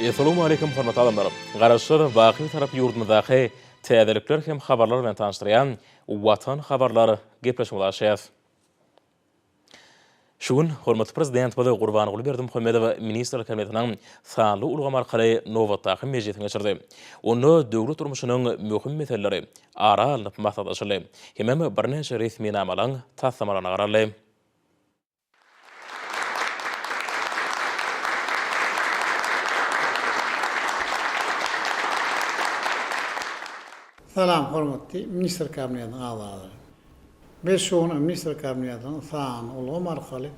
Essalamu Aleýkum hormatly adamlar! Garaşsyz, baky tarap ýurdumyzdaky täzelikler hem habarlar bilen tanyşdyrýan Watan habarlar gepleşigimizi açýas. Şu gün hormatly Prezidentimiz Gurbanguly Berdimuhamedow Ministrler Kabinetiniň sanly ulgam arkaly nobatdaky mejlisini geçirdi. Onda döwlet durmuşynyň möhüm meseleleri ara alnyp maslahatlaşyldy hemem birnäçe resminamalaryň taslamalaryna garaldy. Salam hormatly Ministr Kabinetiniň agzalary. Biz şu gün Ministr Kabinetiniň sanly ulgam arkaly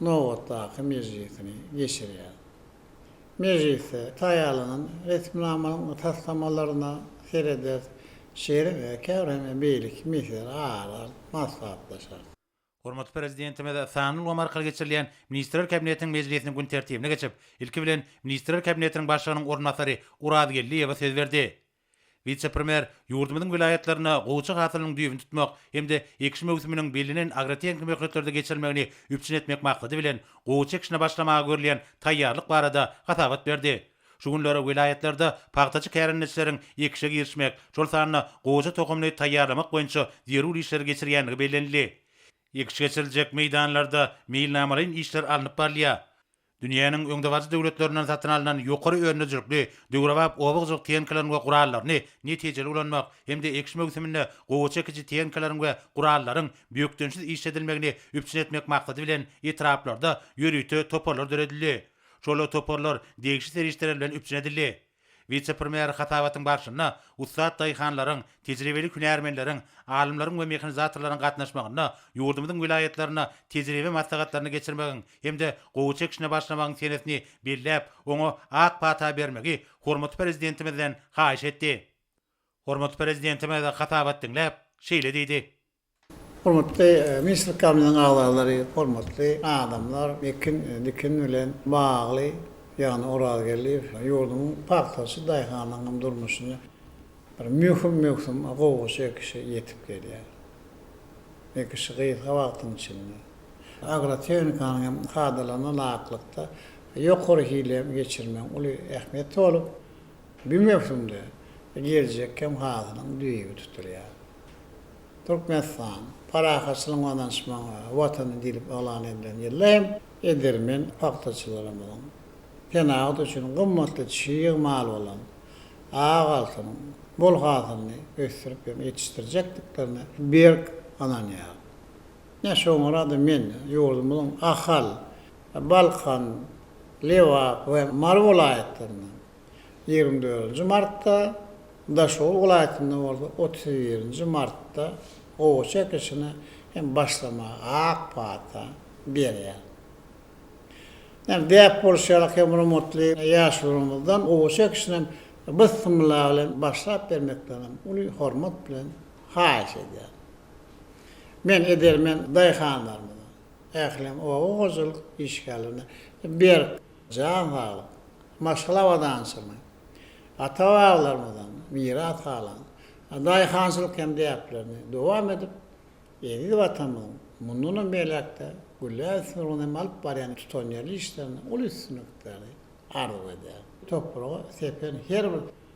nobatdaky mejlisini geçirýäris. Mejlisde taýýarlanan resminamanyň taslamalaryna serederis, şeýle-de käbir hem beýleki meseleleri ara alyp maslahatlaşarys. Hormatly Prezidentimiz sanly ulgam arkaly geçirilýän Ministrler Kabinetiniň mejlisiniň gün tertibine geçip, ilki bilen, Ministrler Kabinetiniň Başlygynyň orunbasary Oraz Geldiýewe söz berdi. Wise-premýer ýurdumyzyň welaýatlarynda gowuçy hasylynyň düýbüni tutmak hem-de ekiş möwsüminiň bellenen agrotehniki möhletlerde geçirilmegini üpjün etmek maksady bilen, gowuçy ekişine başlamaga görülýän taýýarlyk barada hasabat berdi. Şu günler welaýatlarda pagtaçy kärendeçileriň ekişe girişmek, şol sanda gowaça tohumyny taýýarlamak boýunça zerur işleri geçirýändigi bellenildi. Ekiş geçiriljek meýdanlarda meýilnamalaýyn işler alnyp barylýar. Dünýäniň öňdebaryjy döwletlerinden satyn alnan ýokary önüjülikli, döwrebap oba hojalyk tehnikalaryny we gurallaryny netijeli ulanmak hem-de ekiş möwsüminde gowaça ekiji tehnikalaryň we gurallaryň bökdençsiz işledilmegini üpjün etmek maksady bilen etraplarda ýörite toparlar döredildi. Şol toparlar degişli serişdeler bilen üpjün edildi. Wise-premýer hasabatyň barşynda ussat daýhanlaryň, tejribeli hünärmenleriň, alymlaryň we mehanizatorlaryň gatnaşmagynda ýurdumyzyň welaýatlarynda tejribe maslahatlaryny geçirmegiň hem-de gowaça ekişine başlamagyň senesini belläp, oňa ak pata bermegi hormatly Prezidentimizden haýyş etdi. Hormatly Prezidentimiz hasabat diňläp, şeýle diýdi. Hormatly ministrlikamiziň agzalary, hormatly adamlar, ekin, dikin bilen bagly, ýagny Orazgeldiýew ýurdumyň pagtaçy daýhanynyň durmuşyny bir möhüm möwsüm gowgaçy ekişi ýetip gelýär. Ekişi gysga wagtyň içinde. Agrotehnikanyň hem kadalaryna laýyklykda ýokary hile geçirmegiň uly ähmiýeti bolup, bu möwsümde geljek hem hasylyň düýbi tutulýar. Türkmenistan, parahatçylygyň we ynanyşmagyň Watany diýlip yglan edilen ýylda hem edermen pagtaçylarymyzyň senagat üçin gymmatly çig mal bolan ak altynyň bol hasylyny ösdürip hem ýetişdirjekdiklerine berk ynanýaryn. Ine, şoňara-da men ýurdumyzyň Ahal, Balkan, Lebap we Mary welaýatlaryndan, ýigrimi dördünji martda, Daşoguz welaýatynda bolsa otuz birinji martda gowaça ekişine hem başlamaga ak pata berýär. Ýöne däp bolşy ýaly, hemrumutly ýaşularymyzdan gowaça ekişinem Bismylla bilen başlap bermeklerinem uly hormat bilen haýyş edýärin. Men edermen daýhanlarymyza, ählem oba hojalyk işgärlerine berk Jan saglyk, maşgala abadançylygy, ata-babalarymyzdan miras galan daýhançylyk hem däplerini dowam edip, eziz Watanymyzyň mundanam beýläk-de gülläp ösmegi ugrunda hem alyp barýan tutanýerli işlerinde uly üstünlikleri arzuw edýärin. Topraga sepen her bir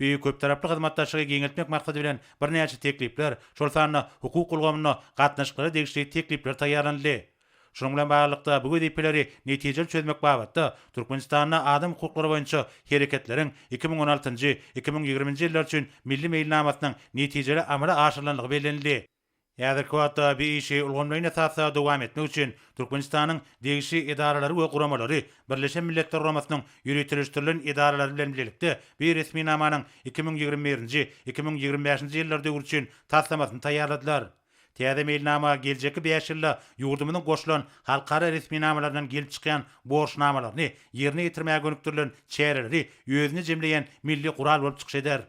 Beýik köptaraply hyzmatdaşlygy giňeltmek maksady bilen birnäçe teklipler, şol sanda hukuk ulgamynda gatnaşyklara degişli teklipler taýýarlanyldy. Şunuň bilen baglylykda, bu wezipeleri netijeli çözmek babatda Türkmenistanda adam hukuklary boýunça hereketleriň iki müň on altynjy, iki müň ýigriminji ýyllar üçin Milli meýilnamasynyň netijeli amala aşyrylandygy bellenildi. Häzirki wagtda bu işi ulgamlaýyn esasda dowam etmek üçin Türkmenistanyň degişli edaralary we guramalary Birleşen Milletler Guramasynyň ýöriteleşdirilen edaralary bilen bilelikde bu resminamanyň iki müň ýigrimi birinji, iki müň ýigrimi bäşinji ýyllar döwri üçin taslamasyny taýýarladylar. Täze meýilnama geljekki bäş ýylda ýurdumyzyň goşulan halkara resminamalaryndan gelip çykýan borçnamalaryny ýerine ýetirmäge gönükdirilen çäreleri özünde jemleýän milli gural bolup çykyş eder.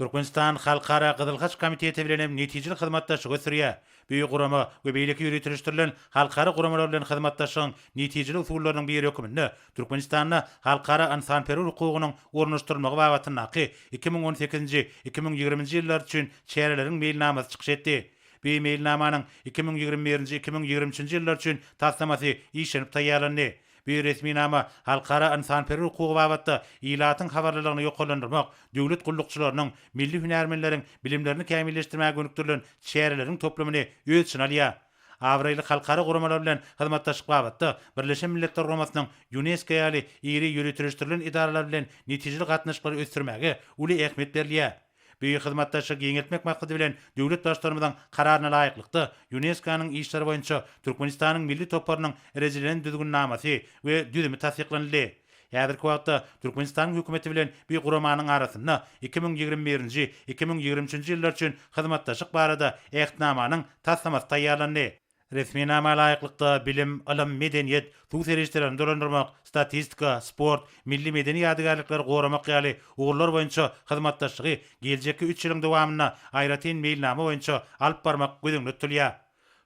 Türkmenistan Halkara Gyzyl Haç Komiteti bilen hem netijeli hyzmatdaşlygy ösdürýär. Büyük gurama we beýleki ýöriteleşdirilen halkara guramalar bilen hyzmatdaşlygyň netijeli usullarynyň biri höküminde Türkmenistanda halkara ynsanperwer hukugynyň ornaşdyrylmagy babatyndaky iki müň on sekizinji, iki müň ýigriminji ýyllar üçin çäreleriň meýilnamasy çykyş etdi. Bi meýilnamanyň iki müň ýigrimi birinji, iki müň ýigrimi üçünji ýyllar üçin taslamasy işlenip taýýarlandy. Bu resminama halkara ynsanperwer hukugy babatda ilatyň habarlylygyny ýokarlandyrmak, döwlet gullukçylarynyň, milli hünärmenleriň bilimlerini kämilleşdirmäge gönükdirilen çäreleriň toplumyny öz içine alýar. Abraýly halkara guramalar bilen hyzmatdaşlyk babatda Birleşen Milletler Guramasynyň, Ýunesko ýaly iri ýöriteleşdirilen edaralar bilen netijeli gatnaşyklary ösdürmäge uly ähmiýet berilýär. Beýik hyzmatdaşlygy giňeltmek maksady bilen, döwlet Baştutanymyzyň Kararyna laýyklykda, Ýunesko-nyň işleri boýunça Türkmenistanyň milli toparynyň rejelilen düzgünnamasy we düzümi tassyklanyldy. Häzirki wagtda Türkmenistanyň Hökümeti bilen bi guramanyň arasynda iki müň ýigrimi birinji, iki müň ýigrimi üçünji ýyllar üçin hyzmatdaşlyk barada Ähtnamanyň taslamasy taýýarlandy. Resminama laýyklykda, bilim, ylym, medeniýet, suw serişdelerini dolandyrmak, statistika, sport, milli medeni ýadygärlikleri goramak ýaly ugurlar boýunça hyzmatdaşlygy geljekki üç ýylyň dowamynda aýratyn meýilnama boýunça alyp barmak göz öňünde tutulýar.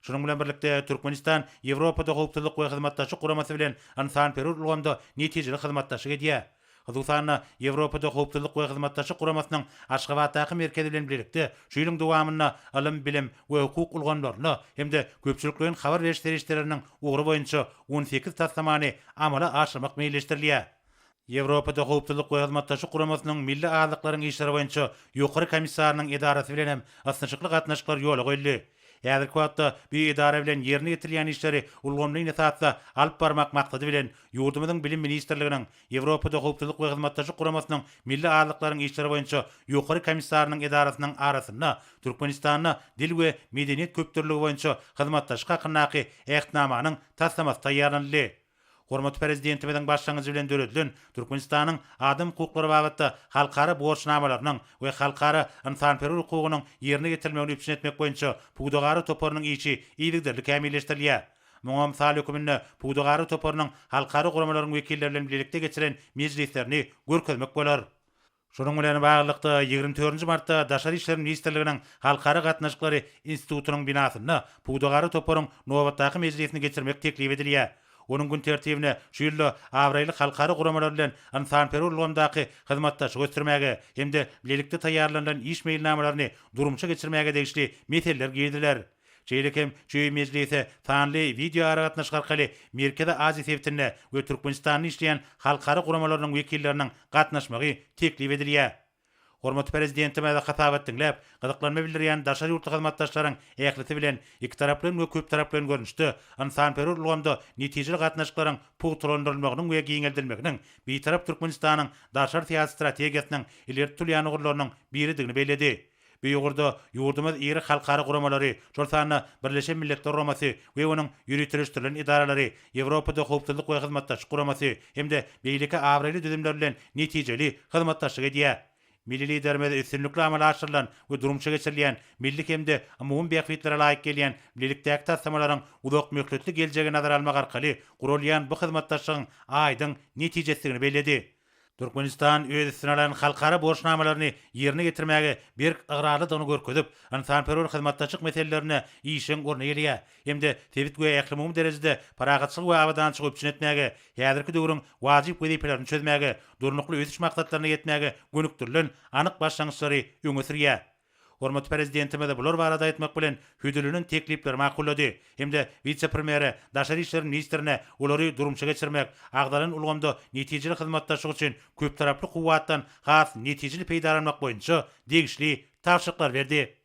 Şunuň bilen birlikde, Türkmenistan Ýewropada Howpsuzlyk we Hyzmatdaşlyk Guramasy bilen ynsanperwer ulgamda netijeli hyzmatdaşlyk edýär. Hususan-da, Ýewropada Howpsuzlyk we Hyzmatdaşlyk Guramasynyň Aşgabatdaky merkezi bilen bilelikde şu ýylyň dowamynda ylym, bilim we hukuk ulgamlarynda hem-de köpçülikleýin habar beriş serişdeleriniň ugry boýunça on sekiz taslamany amala aşyrmak meýilleşdirilýär. Ýewropada Howpsuzlyk we Hyzmatdaşlyk Guramasynyň Milli azlyklaryň işleri boýunça Ýokary komissarynyň edarasy bilen hem ysnyşykly gatnaşyklar ýola goýuldy. Häzirki wagtda bu edara bilen ýerine ýetirilýän işleri ulgamleýin esasda alyp barmak maksady bilen, ýurdumyzyň Bilim ministrliginiň Ýewropada Howpsuzlyk we Hyzmatdaşlyk Guramasynyň Milli azlyklaryň işleri boýunça Ýokary komissarynyň edarasynyň arasynda Türkmenistanda Dil we medeniýet köpdürlüligi boýunça hyzmatdaşlyk hakyndaky Ähtnamanyň taslamasy taýýarlanyldy. Hormatly Prezidentimiziň başlangyjy bilen döredilen Türkmenistanyň adam hukuklary babatda halkara borçnamalarynyň we halkara ynsanperwer hukugynyň ýerine ýetirilmegini üpjün etmek boýunça pudagara toparynyň işi yzygiderli kämilleşdirilýär. Muňa mysal höküminde pudagara toparynyň halkara guramalaryň wekilleri bilen bilelikde geçiren mejlislerini görkezmek bolar. Şunuň bilen baglylykda, ýigrimi dördünji martda Daşary işler ministrliginiň Halkara gatnaşyklary institutynyň binasynda pudagara toparyň nobatdaky mejlisini geçirmek teklip edilýär. Onuň gün tertibine şu ýylda abraýly halkara guramalar bilen ynsanperwer ulgamdaky hyzmatdaşlygy ösdürmäge hem-de bilelikde taýýarlanylan iş meýilnamalaryny durmuşa geçirmäge degişli meseleler giriziler. Şeýle hem Çöý mejlise sanly wideoaragatnaşyk arkaly Merkezi Aziýa sebitinde we Türkmenistanda işleýän halkara guramalarynyň wekilleriniň gatnaşmagy teklip edilýär. Hormatly Prezidentimize hasabat diňläp, gyzyklanma bildirýän daşary ýurtly hyzmatdaşlaryň ählisi bilen ikitaraplaýyn we köptaraplaýyn görnüşde ynsanperwer ulgamda netijeli gatnaşyklaryň pugtalandyrylmagynyň we giňeldilmeginiň Bitarap Türkmenistanyň daşary syýasy strategiýasynyň ileri tutulýan ugurlarynyň biridigini belledi. Bu ugurda ýurdumyz iri halkara guramalary, şol sanda Birleşen Milletler Guramasy we onuň ýöriteleşdirilen edaralary, Ýewropada Howpsuzlyk we Hyzmatdaşlyk Guramasy hem-de beýleki abraýly düzümler bilen netijeli hyzmatdaşlyk edýär. Milli Liderimiz üstünlikli amala aşyrylan we durmuşa geçirilýän milli hem-de umumy bähbitlere laýyk gelýän bilelikdäki taslamalaryň uzakmöhletli geljegi nazara almak arkaly guralýan bu hyzmatdaşlygyň aýdyň netijesidigini belledi. Türkmenistan öz üstüne alan halkara borçnamalaryny ýerine ýetirmäge berk ygrarlydygyny görkezip, ynsanperwer hyzmatdaşlyk meselelerinde işjeň orun eýeleýär hem-de sebit we ählumumy derejede parahatçylygy we abadançylygy üpjün etmäge, häzirki döwrüň wajyp wezipelerini çözmäge, Durnukly ösüş maksatlaryna ýetmäge gönükdirilen anyk başlangyçlary öňe sürýär. Hormatly Prezidentimiz bular barada aýtmak bilen, hödürlenen teklipleri makullady hem-de wise-premýere, daşary işler ministrine olary durmuşa geçirmek, agzalan ulgamda netijeli hyzmatdaşlyk üçin köptaraply kuwwatdan has netijeli peýdalanmak boýunça degişli tabşyryklary berdi.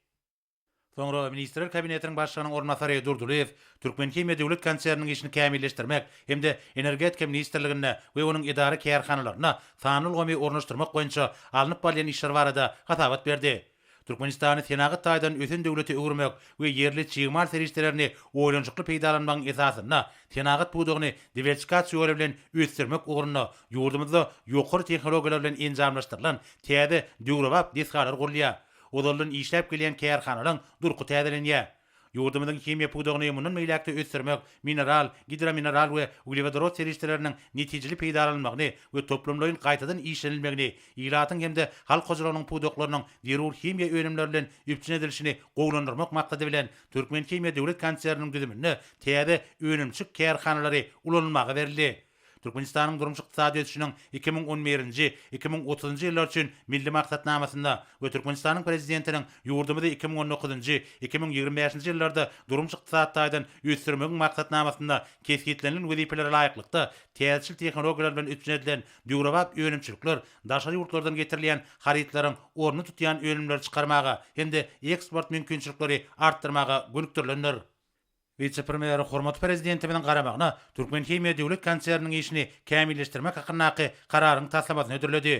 Soňra Ministrler Kabinetiniň Başlygynyň orunbasary Durdylyýew Türkmenhimiýa döwlet konserniniň işini kämilleşdirmek hem-de Energetika ministrliginde we onuň edara-kärhanalarynda sanly ulgamy ornaşdyrmak boýunça alnyp barylýan işler barada hasabat berdi. Türkmenistany senagat taýdan ösen döwlete öwürmek we ýerli çig mal serişdelerini oýlanyşykly peýdalanmagyň esasynda senagat pudagyny diwersikasiýory bilen ösdürmek ugrunda ýurdumyzda ýokary tehnologiýalar bilen enjamlaşdyrylan täze döwrebap desgalar gurulýar, ozaldan işläp gelýän kärhanalaryň durky täzelenýär. Ýurdumyzyň himiýa pudagyny mundan beýläk-de ösdürmek, mineral, gidromineral we uglewodorod serişdeleriniň netijeli peýdalanylmagyny we toplumlaýyn gaýtadan işlenilmegini, ilatyň hem-de halk hojalygynyň pudaklarynyň zerur himiýa önümleri bilen üpjün edilişini gowulandyrmak maksady bilen, Türkmenhimiýa döwlet konserniniň düzüminde täze önümçik kärhanalary ulanylmaga berildi. Türkmenistanyň durmuş-ykdysady ösüşiniň iki müň on birinji, iki müň otuzynjy ýyllar üçin Milli maksatnamasynda we Türkmenistanyň Prezidentiniň ýurdumyzy iki müň on dokuzynjy, iki müň ýigrimi bäşinji ýyllarda durmuş-ykdysady taýdan ösdürmegiň maksatnamasynda kesgitlenilen wezipelere laýyklykda täzeçil tehnologiýalar bilen üpjün edilen döwrebap önümçilikler daşary ýurtlardan getirilýän harytlaryň ornuny tutýan önümleri çykarmaga hem-de eksport mümkinçilikleri artdyrmaga gönükdirilendir. Wise-premýer hormatly Prezidentimiziň garamagyna Türkmenhimiýa döwlet konserniniň işini kämilleşdirmek hakyndaky Kararyň taslamasyny hödürledi.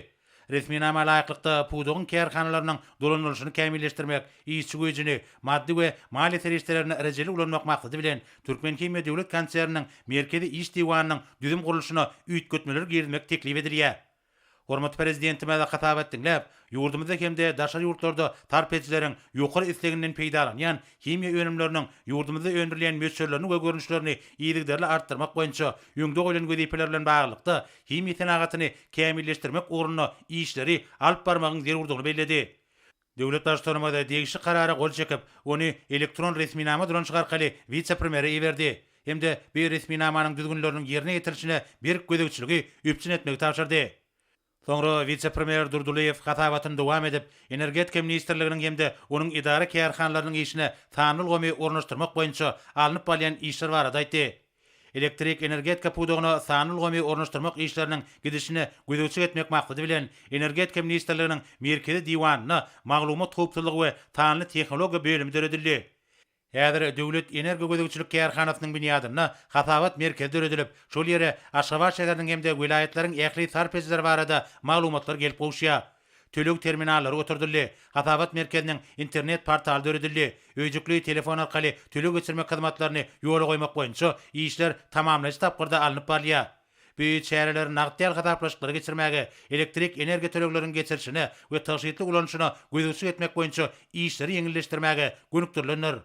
Resminama laýyklykda, pudagyň kärhanalarynyň dolandyrylyşyny kämilleşdirmek, işçi güýjüni, maddy we maliýe serişdelerini rejeli ulanmak maksady bilen, Türkmenhimiýa döwlet konserniniň Merkezi iş diwanynyň düzüm gurluşyna üýtgetmeler girizmek teklip edilýär. Hormatly Prezidentimize hasap et diňläp, ýurdumyzda hem-de daşary ýurtlarda sarp edijileriň ýokary isleginden peýdalanýan himiýa önümleriniň ýurdumyzda öndürilýän möçberlerini we görnüşlerini yzygiderli artdyrmak boýunça öňde goýlan wezipeler bilen baglylykda himiýa senagatyny kämilleşdirmek ugrunda işleri alyp barmagyň zerurdygyny belledi. Döwlet Baştutanymyz degişli karara gol çekip, ony elektron resminama dolanyşygy arkaly wise-premýere iberdi hem-de bu resminamanyň düzgünleriniň ýerine ýetirilişine berk gözegçiligi üpjün etmegi tabşyrdy. Soňra wise-premýer Durdylyýew hasabatyny dowam edip, Energetika ministrliginiň hem-de onuň edara-kärhanalarynyň işine sanly ulgamy ornaşdyrmak boýunça alnyp barylýan işler barada aýtdy. Elektrik energetika pudagyna sanly ulgamy ornaşdyrmak işleriniň gidişine gözegçilik etmek maksady bilen, Energetika ministrliginiň Merkezi diwanynda Maglumat howpsuzlygy we sanly tehnologiýa bölümi döredildi. Häzir Döwlet energogözegçilik kärhanasynyň binýadynda Hasabat merkezi döredilip, şol ýere Aşgabat şäheriniň hem-de welaýatlaryň ähli sarp edijileri barada maglumatlar gelip gowuşýar. Töleg terminallary oturdyldy. Hasabat merkeziniň internet portaly döredildi. Öýjükli telefon arkaly töleg geçirmek hyzmatlaryny ýola goýmak boýunça işler tamamlaýjy tapgyrda alnyp barylýar. Bu çäreler nagt däl hasaplaşyklary geçirmäge, elektrik energiýa tölegleriniň geçirilişine we tygşytly ulanyşyna gözegçilik etmek boýunça işleri ýeňilleşdirmäge gönükdirilendir.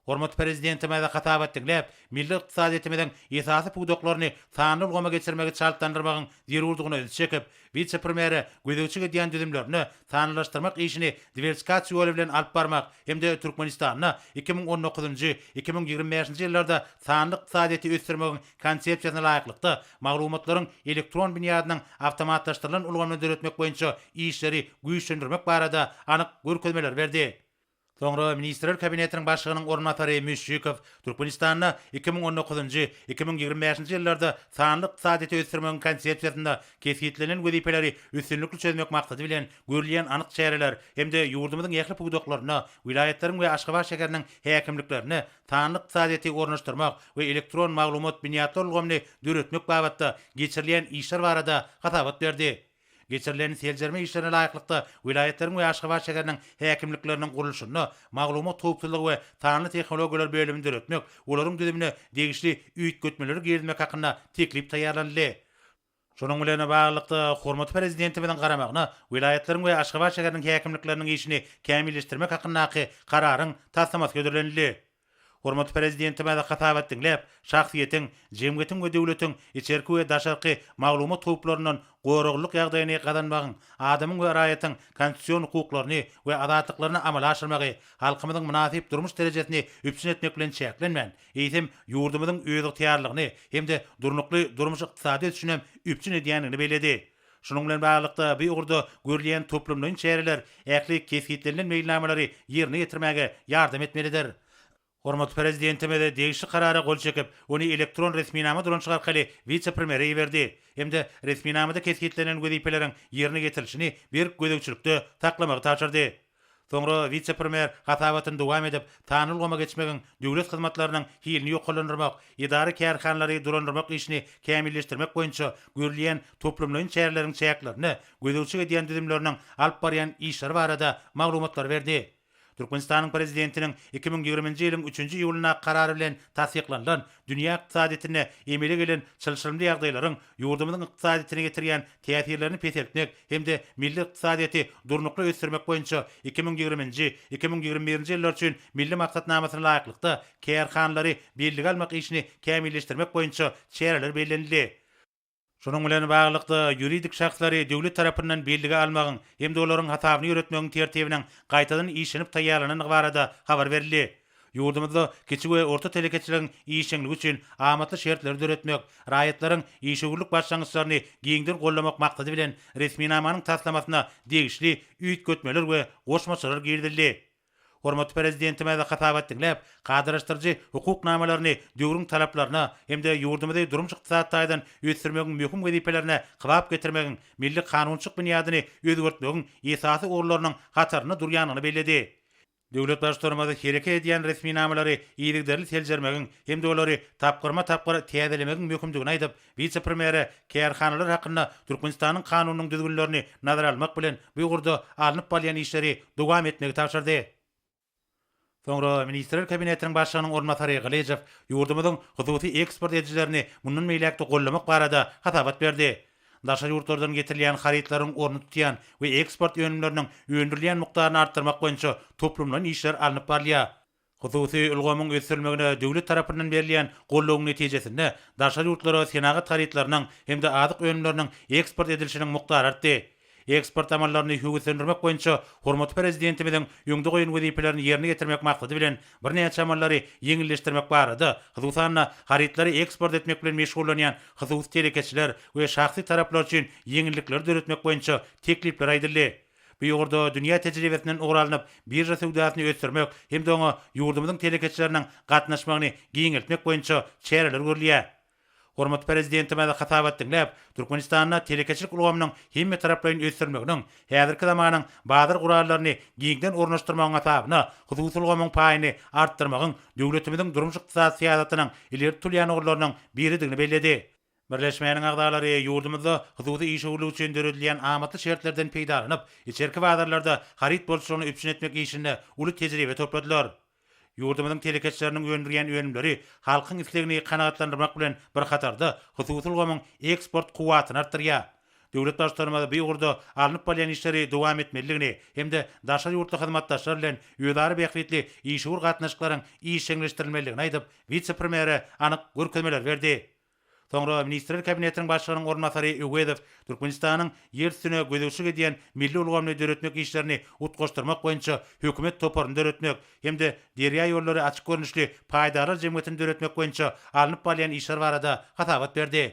Hormatly Prezidentimize hasabat diňläp, milli ykdysadyýetimiziň esasy pudaklaryny sanly ulgama geçirmegi çaltlandyrmagyň zerurdygyna ünsi çekip, wise-premýere gözegçilik edýän düzümlerine sanlylaşdyrmak işini diwersikasiýa ýoly bilen alyp barmak hem-de Türkmenistanda iki müň on dokuzynjy, iki müň ýigrimi bäşinji ýyllarda sanly ykdysadyýeti ösdürmegiň Konsepsiýasyna laýyklykda maglumatlaryň elektron binýadynyň awtomatlaşdyrylan ulgamyny döretmek boýunça işleri güýçlendirmek barada anyk görkezmeleri berdi. Soňra Ministrler Kabinetiniň Başlygynyň orunbasary Müşşikow Türkmenistanda iki müň on dokuzynjy, iki müň ýigrimi bäşinji ýyllarda sanly ykdysadyýeti ösdürmegiň Konsepsiýasynda kesgitlenilen wezipeleri üstünlikli çözmek maksady bilen görülýän anyk çäreler hem-de ýurdumyzyň ähli pudaklarynda, welaýatlaryň we Aşgabat şäheriniň häkimliklerinde sanly ykdysadyýeti ornaşdyrmak we elektron maglumat binýatlar ulgamyny döretmek babatda geçirilýän işler barada hasabat berdi. Geçirilen seljerme işlerine laýyklykda, welaýatlaryň we Aşgabat şäheriniň häkimlikleriniň gurluşyny maglumat howpsuzlygy we sanly tehnologiýalar bölümini döretmek, olaryň düzümine degişli üýtgetmeleri girizmek hakynda teklip taýýarlanyldy. Şunuň bilen baglylykda, hormatly Prezidentimiziň garamagyna welaýatlaryň we Aşgabat şäheriniň häkimlikleriniň işini kämilleşdirmek hakyndaky Kararyň taslamasy hödürlenildi. Hormatly Prezidentimiz hasabat diňläp, şahsyýetiň, jemgyýetiň we döwletiň içerki we daşarky maglumat howplaryndan goraglylyk ýagdaýyny gazanmagyň, adamyň we raýatyň konstitusion hukuklaryny we azatlyklaryny amala aşyrmagy halkymyzyň mynasyp durmuş derejesini üpjün etmek bilen çäklenmän, eýsem, ýurdumyzyň özygtyýarlygyny hem-de durnukly durmuş-ykdysady ösüşinem üpjün edýändigini belledi. Şunuň bilen baglylykda, bu ugurda görülýän toplumlaýyn çäreler ähli kesgitlenilen meýilnamalary ýerine ýetirmäge ýardam etmelidir. Hormatly Prezidentimiz degişli Karara gol çekip, ony elektron resminama dolanyşyk arkaly wise-premýere iberdi hem-de resminamada kesgitlenilen wezipeleriň ýerine ýetirilişini berk gözegçilikde saklamagy tabşyrdy. Soňra wise-premýer hasabatyny dowam edip, sanly ulgama geçmegiň döwlet hyzmatlarynyň hilini ýokarlandyrmak, edara-kärhanalary dolandyrmak işini kämilleşdirmek boýunça görülýän toplumlaýyn çäreleriň çäklerinde gözegçilik edýän düzümleriniň alyp barýan işleri barada maglumatlary berdi. Türkmenistanyň Prezidentiniň iki müň ýigriminji ýylyň üçünji iýulyndaky Karary bilen tassyklanylan Dünýä ykdysadyýetinde emele gelen çylşyrymly ýagdaýlaryň ýurdumyzyň ykdysadyýetine ýetirýän täsirlerini peseltmek hem-de milli ykdysadyýeti durnukly ösdürmek boýunça iki müň ýigriminji, iki müň ýigrimi birinji ýyllar üçin Milli maksatnamasyna laýyklykda, kärhanalary bellige almak işini kämilleşdirmek boýunça çäreler bellenildi. Şunuň bilen baglylykda, ýuridik şahslary döwlet tarapyndan bellige almagyň hem-de olaryň hasabyny ýöretmegiň tertibiniň gaýtadan işlenip taýýarlanandygy barada habar berildi. Ýurdumyzda kiçi we orta telekeçiligiň işjeňligi üçin amatly şertleri döretmek, raýatlaryň işewürlik başlangyçlaryny giňden goldamak maksady bilen, resminamanyň taslamasyna degişli üýtgetmeler we goşmaçalar girizildi. Hormatly Prezidentimiz hasabat diňläp, kadalaşdyryjy hukuk namalaryny döwrüň talaplaryna hem-de ýurdumyzy durmuş-ykdysady taýdan ösdürmegiň möhüm wezipelerine kybap getirmegiň, milli kanunçylyk binýadyny özgertmegiň esasy ugurlarynyň hatarynda durýandygyny belledi. Döwlet Baştutanymyz hereket edýän resminamalary yzygiderli seljermegiň hem-de olary tapgyrma-tapgyr täzelemegiň möhümdigini aýdyp, Wise-premýere kärhanalar hakynda Türkmenistanyň Kanunynyň düzgünlerini nazara almak bilen, bu ugurda alnyp barylýan işleri dowam etmegi tabşyrdy. Soňra Ministrler Kabinetiniň Başlygynyň orunbasary Gylyjow ýurdumyzyň hususy eksport edijilerini mundan beýläk-de gollamak barada hasabat berdi. Daşary ýurtlardan getirilýän harytlaryň ornuny tutýan we eksport önümleriniň öndürilýän mukdaryny artdyrmak boýunça toplumlaýyn işler alnyp barylýar. Hususy ulgamyň ösdürilmegine döwlet tarapyndan berilýän goldawyň netijesinde, daşary ýurtlara senagat harytlarynyň hem-de azyk önümleriniň eksport edilişiniň mukdary artdy. Eksport amallaryny höweslendirmek boýunça hormatly Prezidentimiziň öňde goýan wezipelerini ýerine ýetirmek maksady bilen, birnäçe amallary ýeňilleşdirmek barada, hususan-da, harytlary eksport etmek bilen meşgullanýan hususy telekeçiler we şahsy taraplar üçin ýeňillikleri döretmek boýunça teklipler aýdyldy. Bu ugurda dünýä tejribesinden ugur alnyp, birža söwdasyny ösdürmek hem-de oňa ýurdumyzyň telekeçileriniň gatnaşmagyny giňeltmek boýunça çäreler görülýär. Hormatly Prezidentimiz hasabat diňläp, Türkmenistanda telekeçilik ulgamynyň hemmetaraplaýyn ösdürilmeginiň, häzirki zamanyň bazar gurallaryny giňden ornaşdyrmagyň hasabyna hususy ulgamyň paýyny artdyrmagyň döwletimiziň durmuş-ykdysady syýasatynyň ileri tutulýan ugurlarynyň biridigini belledi. Birleşmäniň agzalary ýurdumyzda hususy işewürlik üçin döredilýän amatly şertlerden peýdalanyp, içerki bazarlarda haryt bolçulygyny üpjün etmek işinde uly tejribe topladylar. Ýurdumyzyň telekeçileriniň öndürýän önümleri halkyň islegini kanagatlandyrmak bilen bir hatarda, hususy ulgamyň eksport kuwwatyny artdyrýar. Döwlet Baştutanymyz bu ugurda alnyp barylýan işleri dowam etmelidigini hem-de daşary ýurtly hyzmatdaşlar bilen özara bähbitli işewür gatnaşyklaryň işjeňleşdirilmelidigini aýdyp, wise-premýere anyk görkezmeler berdi. Soňra Ministrler Kabinetiniň Başlygynyň orunbasary Öwezow Türkmenistanyň ýer üstüne gözegçilik edýän milli ulgamyny döretmek işlerini utgaşdyrmak boýunça hökümet toparyny döretmek hem-de Derýaýollary açyk görnüşli paýdarlar jemgyýetini döretmek boýunça alnyp barylýan işler barada hasabat berdi.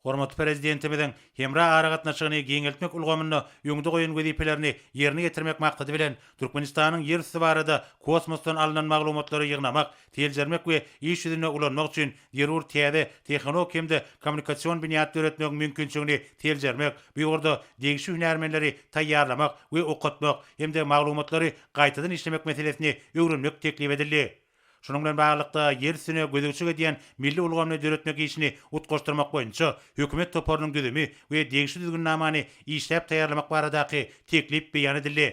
Hormatly Prezidentimiziň hemra aragatnaşygyny giňeltmek ulgamynda öňde goýan wezipelerini ýerine ýetirmek maksady bilen, Türkmenistanyň ýer üsti barada kosmosdan alnan maglumatlary ýygnamak, seljermek we iş ýüzünde ulanmak üçin zerur täze tehnologik hem-de kommunikasion binýat döretmegiň mümkinçiligini seljermek, bu ýurda degişli hünärmenleri taýýarlamak we okatmak hem-de maglumatlary gaýtadan işlemek meselesini öwrenmek teklip edildi. Şunuň bilen baglylykda, ýer üstüne gözegçilik edýän milli ulgamyny döretmek işini utgaşdyrmak boýunça hökümet toparynyň düzümi we degişli düzgünnamany işläp taýýarlamak baradaky teklip beýan edildi.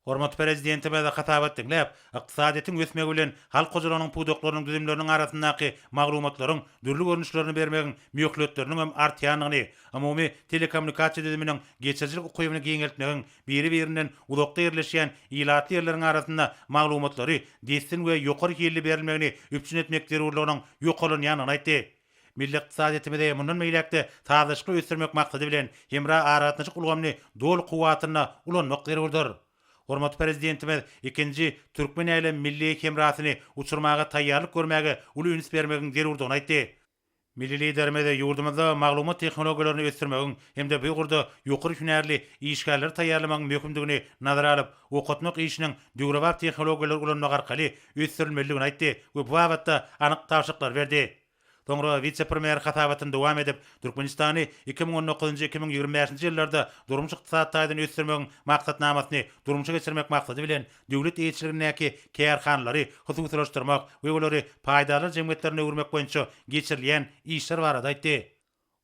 Hormatly Prezidentimiz hasabat diňläp, ykdysadyýetiň ösmegi bilen halk hojalygynyň pudaklarynyň düzümleriniň arasyndaky maglumatlaryň dürli görnüşlerini bermegiň möhletleriniň hem artýandygyny, umumy telekommunikasiýa düzüminiň geçirijilik ukybyny giňeltmegiň biri-birinden uzakda ýerleşýän ilatly ýerleriň arasynda maglumatlary dessin we ýokary hilli berilmegini üpjün etmek zerurlygynyň ýokarlanýandygyny aýtdy. Milli ykdysadyýetimizi mundan beýläk-de sazlaşykly ösdürmek maksady bilen, hemra aragatnaşyk ulgamyny doly kuwwatynda ulanmak zerurdyr. Hormatly Prezidentimiz ikinji Türkmen-älem milli hemrasyny uçurmaga taýýarlyk görmäge uly üns bermegiň zerurdygyny aýtdy. Milli Liderimiz ýurdumyzda maglumat tehnologiýalaryny ösdürmegiň hem-de bu ugurda ýokary hünärli işgärleri taýýarlamagyň möhümdigini nazara alyp, okatmak işiniň döwrebap tehnologiýalary ulanmak arkaly ösdürilmelidigini aýtdy we bu babatda anyk tabşyryklary berdi. Soňra wise-premýer hasabatyny dowam edip, Türkmenistany iki müň on dokuzynjy-iki müň ýigrimi bäşinji ýyllarda durmuş-ykdysady taýdan ösdürmegiň Maksatnamasyny durmuşa geçirmek maksady bilen, döwlet eýeçiligindäki kärhanalary hususylaşdyrmak we olary paýdarlar jemgyýetlerine öwürmek boýunça geçirilýän işler barada aýtdy.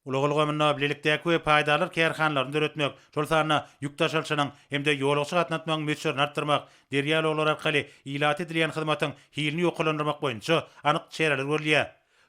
Ulag ulgamynda bilelikdäki we paýdarlar kärhanalaryny döretmek, şol sanda ýük daşalyşynyň hem-de ýolagçy gatnatmagyň möçberini artdyrmak, derýa ulaglary arkaly ilata edilýän hyzmatyň hilini ýokarlandyrmak boýunça anyk çäreler görülýär.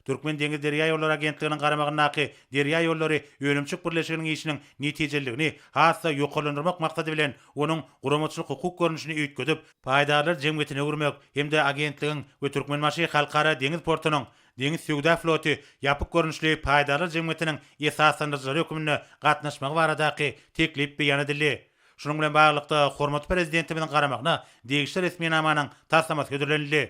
Türkmen deňiz derýaýollary agentliginiň garamagyndaky Derýaýollary önümçilik birleşiginiň işiniň netijeliligini has-da ýokarlandyrmak maksady bilen onuň guramaçylyk-hukuk görnüşini üýtgedip, paýdarlar jemgyýetine öwürmek hem-de agentligiň we Türkmenbaşy Halkara deňiz portunyň Deňiz söwda floty ýapyk görnüşli paýdarlar jemgyýetiniň esaslandyryjylary hökmünde gatnaşmagy baradaky teklip beýan edildi. Şunuň bilen baglylykda, hormatly Prezidentimiziň garamagyna degişli resminamanyň taslamasy hödürlenildi.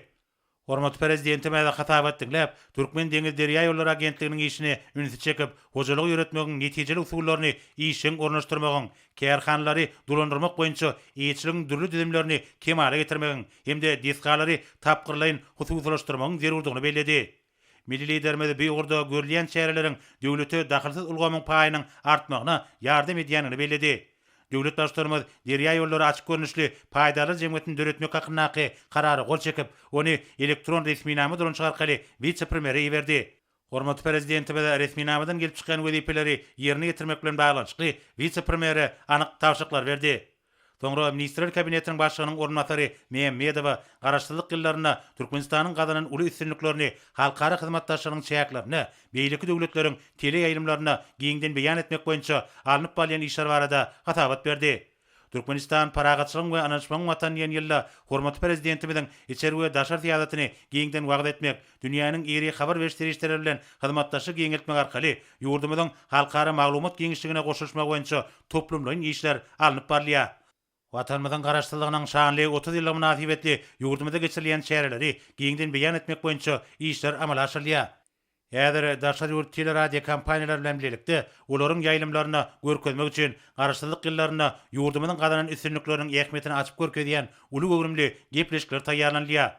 Hormatly Prezidentimiz hasabat diňläp, Türkmendeňizderýaýollary agentliginiň işine ünsi çekip, hojalygy ýöretmegiň netijeli usullaryny işjeň ornaşdyrmagyň, kärhanalary dolandyrmak boýunça eýeçiligiň dürli düzümlerini kemala getirmegiň hem-de desgalary tapgyrlaýyn hususylaşdyrmagyň zerurdygyny belledi. Milli Liderimiz bu ugurda görülýän çäreleriň döwlete dahylsyz ulgamyň paýynyň artmagyna ýardam edýändigini belledi. Döwlet Baştutanymyz Derýaýollary açyk görnüşli paýdarlar jemgyýetini döretmek hakyndaky Karara gol çekip, ony elektron resminama dolanyşyk arkaly wise-premýere iberdi. Hormatly Prezidentimiz resminamadan gelip çykýan wezipeleri ýerine ýetirmek bilen baglanyşykly wise-premýere anyk tabşyryklary berdi. Soňra Ministrler Kabinetiniň Başlygynyň orunbasary Mämmedowa Garaşsyzlyk ýyllarynda Türkmenistanyň gazanan uly üstünliklerini halkara hyzmatdaşlygynyň çäklerinde beýleki döwletleriň teleýaýlymlarynda giňden beýan etmek boýunça alnyp barylýan işler barada hasabat berdi. Türkmenistan Parahatçylygyň we ynanyşmagyň Watany diýen ýylda hormatly Prezidentimiziň içeri we daşary syýasatyny giňden wagyz etmek, dünýäniň iri habar beriş serişdeleri bilen hyzmatdaşlygy giňeltmek arkaly ýurdumyzyň halkara maglumat giňişligine goşulyşmagy boýunça toplumlaýyn işler alnyp barylýar. Watanymyzyň Garaşsyzlygynyň şanly otuz ýyllygy mynasybetli ýurdumyzda geçirilýän çäreleri giňden beýan etmek boýunça işler amala aşyrylýar. Häzir daşary ýurt teleradiokompaniýalary bilen bilelikde olaryň ýaýlymlarynda görkezmek üçin Garaşsyzlyk ýyllarynda ýurdumyzyň gazanan üstünlikleriniň ähmiýetini açyp görkezýän uly göwrümli gepleşikler taýýarlanylýar.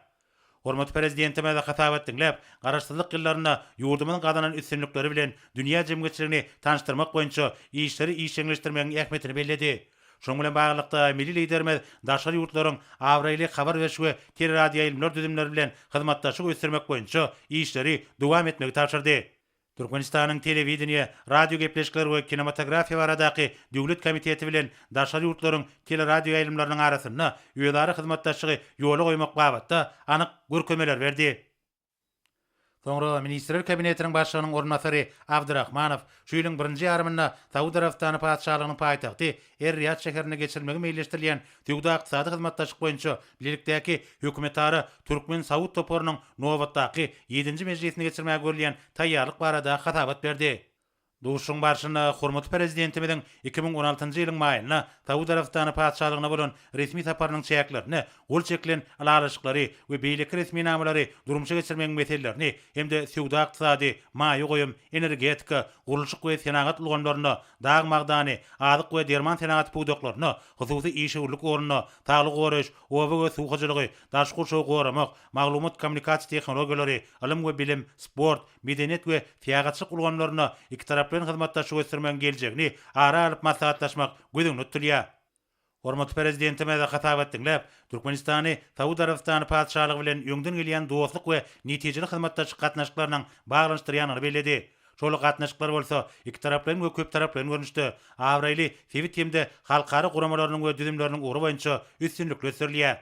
Hormatly Prezidentimiz hasabat diňläp, Garaşsyzlyk ýyllarynda ýurdumyzyň gazanan üstünlikleri bilen dünýä jemgyýetçiligini tanyşdyrmak boýunça işleri işjeňleşdirmegiň ähmiýetini belledi. Şunuň bilen baglylykda, milli Liderimiz daşary ýurtlaryň abraýly habar beriş we teleradioýaýlymlar düzümleri bilen hyzmatdaşlygy ösdürmek boýunça işleri dowam etmegi tabşyrdy. Türkmenistanyň Telewideniýe, radiogepleşikler we kinematografiýa baradaky döwlet komiteti bilen daşary ýurtlaryň teleradioýaýlymlarynyň arasynda özara hyzmatdaşlygy ýola goýmak babatda anyk görkezmeler berdi. Soňra Ministrler Kabinetiniň Başlygynyň orunbasary Abdyrahmanow şu ýylyň birinji ýarymynda Saud Arabystany Patyşalygynyň paýtagty Er-Riýad şäherinde geçirilmegi meýilleşdirilýän Söwda-ykdysady hyzmatdaşlyk boýunça bilelikdäki hökümetara türkmen-saud toparynyň nobatdaky ýedinji mejlisini geçirmäge görülýän taýýarlyk barada hasabat berdi. Duşuşygyň barşynda hormatly Prezidentimiziň iki müň on altynjy ýylyň maýynda Saud Arabystany Patyşalygyna bolan resmi saparynyň çäklerinde gol çekilen ylalaşyklary we beýleki resminamalary durmuşa geçirmegiň meselelerini hem-de söwda-ykdysady, maýa goýum, energetika, gurluşyk we senagat ulgamlaryna, dag magdany, azyk we derman senagaty pudaklaryna, hususy işewürlik ornuna, saglygy goraýyş, oba we suw hojalygy, daşky gurşawy goramak, maglumat-kommunikasiýa tehnologiýalary, ylym we bilim, sport, medeniýet we syýahatçylyk ulgamlaryna ikitaraplaýyn hyzmatdaşlygy ösdürmegiň geljegini ara alyp maslahatlaşmak göz öňünde tutulýar. Hormatly Prezidentimiz hasabat diňläp, Türkmenistany Saud Arabystany Patyşalygy bilen öňden gelýän dostluk we netijeli hyzmatdaşlyk gatnaşyklarynyň baglanyşdyrýandygyny belledi. Şol gatnaşyklar bolsa ikitaraplaýyn we köptaraplaýyn görnüşde, abraýly sebit hem-de halkara guramalarynyň we düzümleriniň ugry boýunça üstünlikli ösdürilýär.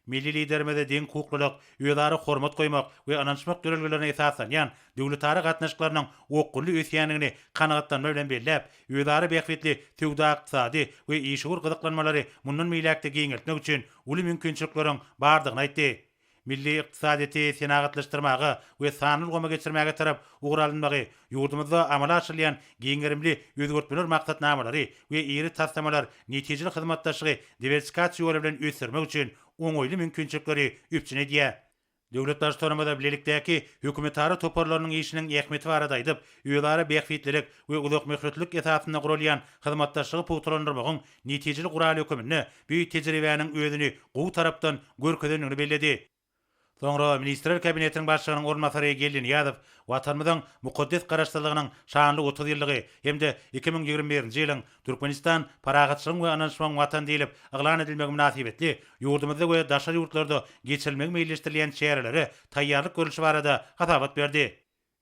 Milli Liderimize deň hukuklylyk, özara hormat goýmak we ynanyşmak ýörelgelerine esaslanýan döwletara gatnaşyklarynyň okgunly ösýändigini kanagatlanma bilen belläp, özara bähbitli söwda-ykdysady we işewür gyzyklanmalary mundan beýläk-de giňeltmek üçin uly mümkinçilikleriň bardygyny aýtdy. Milli ykdysadyýeti senagatlaşdyrmaga we sanly ulgama geçirmäge tarap ugur alynmagy Ýurdumyzda amala aşyrylýan giň gerimli özgertmeler maksatnamalary we iri taslamalar netijeli hyzmatdaşlygy diwersifikasiýa ýoly bilen ösdürmek üçin oňaýly mümkinçilikleri üpjün edýär. Döwlet Baştutanymyz bilelikdäki hökümetara toparlarynyň işiniň ähmiýeti barada aýdyp, özara bähbitlilik we uzakmöhletlilik esasynda guralýan hyzmatdaşlygy pugtalandyrmagyň netijeli guraly höküminde bu tejribäniň özüni gowy tarapdan görkezendigini belledi. Soňra Ministrler Kabinetiniň Başlygynyň orunbasary Geldi Nyýazow Watanymyzyň mukaddes Garaşsyzlygynyň şanly otuz ýyllygy hem-de iki müň ýigrimi birinji ýylyň Türkmenistan, parahatçylygyň we ynanyşmagyň Watany diýlip yglan edilmegi mynasybetli ýurdumyzda we daşary ýurtlarda geçirilmegi meýilleşdirilýän çärelere taýýarlyk görlüşi barada hasabat berdi.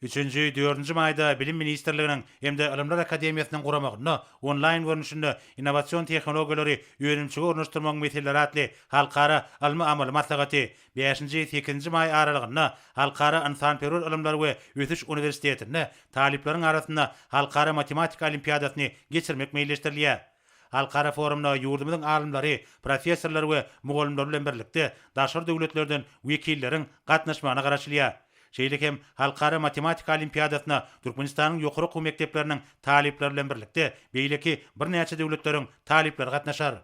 Üçünji, dördünji maýda Bilim ministrliginiň hem-de Ylymlar akademiýasynyň guramagynda Onlaýn görnüşinde Innowasion tehnologiýalary önümçige ornaşdyrmagyň meseleleri atly halkara ylmy-amaly maslahaty, bäşinji, sekizinji maý aralygynda Halkara ynsanperwer ylymlar we ösüş uniwersitetinde talyplaryň arasynda Halkara matematika olimpiadasyny geçirmek meýilleşdirilýär. Halkara forumyna ýurdumyzyň alymlary, professorlary we mugallymlary bilen birlikde daşary döwletlerden wekilleriň gatnaşmagyna garaşylýar. Şeýle hem Halkara matematika olimpiadasyna Türkmenistanyň ýokary okuw mekdepleriniň talyplary bilen birlikde beýleki birnäçe döwletleriň talyplary gatnaşar.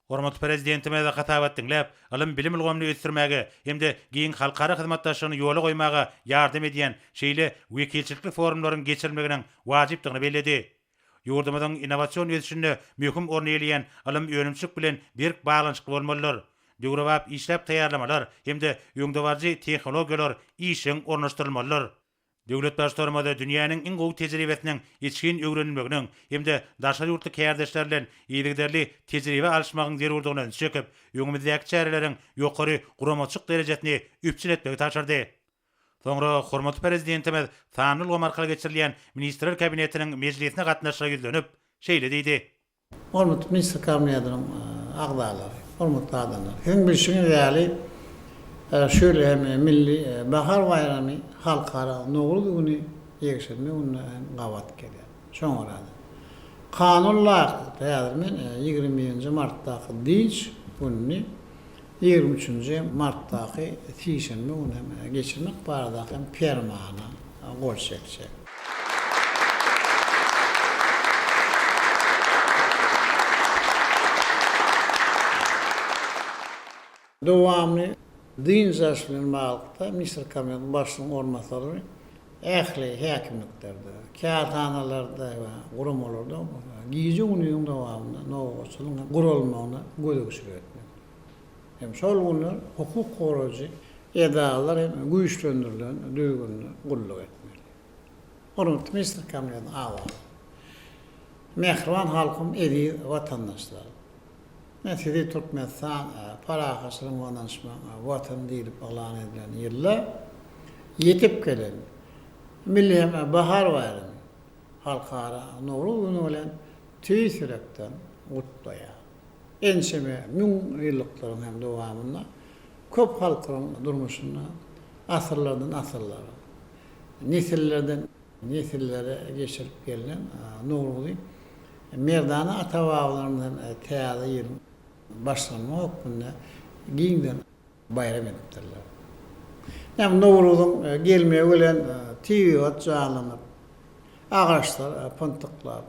Hormatly Prezidentimiz hasabat diňläp, ylym-bilim ulgamyny ösdürmäge hem-de giň halkara hyzmatdaşlygyny ýola goýmaga ýardam edýän şeýle wekilçilikli forumlaryň geçirilmeginiň wajypdygyny belledi. Ýurdumyzyň innowasion ösüşinde möhüm orny eýeleýän ylym önümçilik bilen berk baglanyşykly bolmalydyr. Döwrebap işläp taýýarlamalar hem-de öňdebaryjy tehnologiýalar işjeň ornaşdyrylmalydyr. Döwlet Baştutanymyz dünýäniň iň gowy tejribesiniň içgin öwrenilmeginiň hem-de daşary ýurtly kärdeşler bilen yzygiderli tejribe alyşmagyň zerurdygyna ünsi çekip, öňümizdäki çäreleriň ýokary guramaçylyk derejesini üpjün etmegi tabşyrdy. Soňra hormatly Prezidentimiz sanly ulgam arkaly geçirilýän Ministrler Kabinetiniň mejlisine gatnaşyjylara ýüzlenip, şeýle diýdi. Hormatly Ministrler Kabinetiniň agzalary, hormatly adamlar! Siziň bilşiňiz ýaly, şu ýyl hem Milli bahar baýramy Halkara Nowruz güni ýekşenbe gününe hem gabat gelýär. Şoňa görä-de, kanun laýyklykda häzir men ýigrimi birinji martdaky dynç gününi ýigrimi üçünji martdaky sişenbe güni hem geçirmek baradaky hem permana gol çekjek. Dowamly dynç alyş bilen baglylykda, Misir Kabinetiniň Başlygynyň orunbasary ähli häkimliklerde, kärhanalarda we guramalarda gije-gündiziň dowamynda nobatçylygyň guralmagyna gözegçilik etmek hem şol günler hukuk goraýjy edaralar hem güýçlendirilen düzgünde gulluk etmeli. Hormatly Misir Kabinetiniň agzalary! Mähriban halkym, eziz watandaşlarym! Men sizi Türkmenistan parahatçylygyň we ynanyşmagyň Watany diýlip yglan edilen ýylda ýetip gelen milli hem bahar baýramy, Halkara Nowruz güni bilen tüýs ýürekden gutlaýan. Ençeme müň ýyllykdyryň hem dowamynda köp halklaryň durmuşynda asyrlardan asyrlara, nesillerden Nesillere geçirip gelnen Nowruzy merdana ata-babalarymyzdan Täze ýylyň başlanma hökmünde giňden baýram edipdirler. Ýa bu Nowruzyň gelmegi bilen tebigat janlanyp, agaçlar pyntyklap,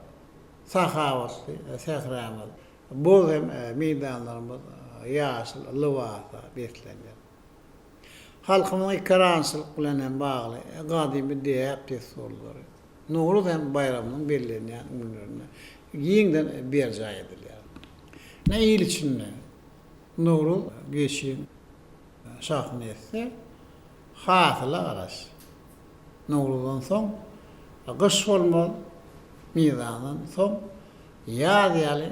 sahawatly sähramyz, bog hem meýdanlarymyz ýaşyl lybasa beslenýär. Halkymyzyň ekerançylyk bilen hem bagly gadymy däp-dessurlary Nowruz hem baýramynyň bellenýän günlerinde giňden berjaý edilýär. Ine, il içinde Nowruz geçiň şahyny etse, hasyla garaş. Nowruzdan soň gyş bolmaz, mizandan soň ýaz ýaly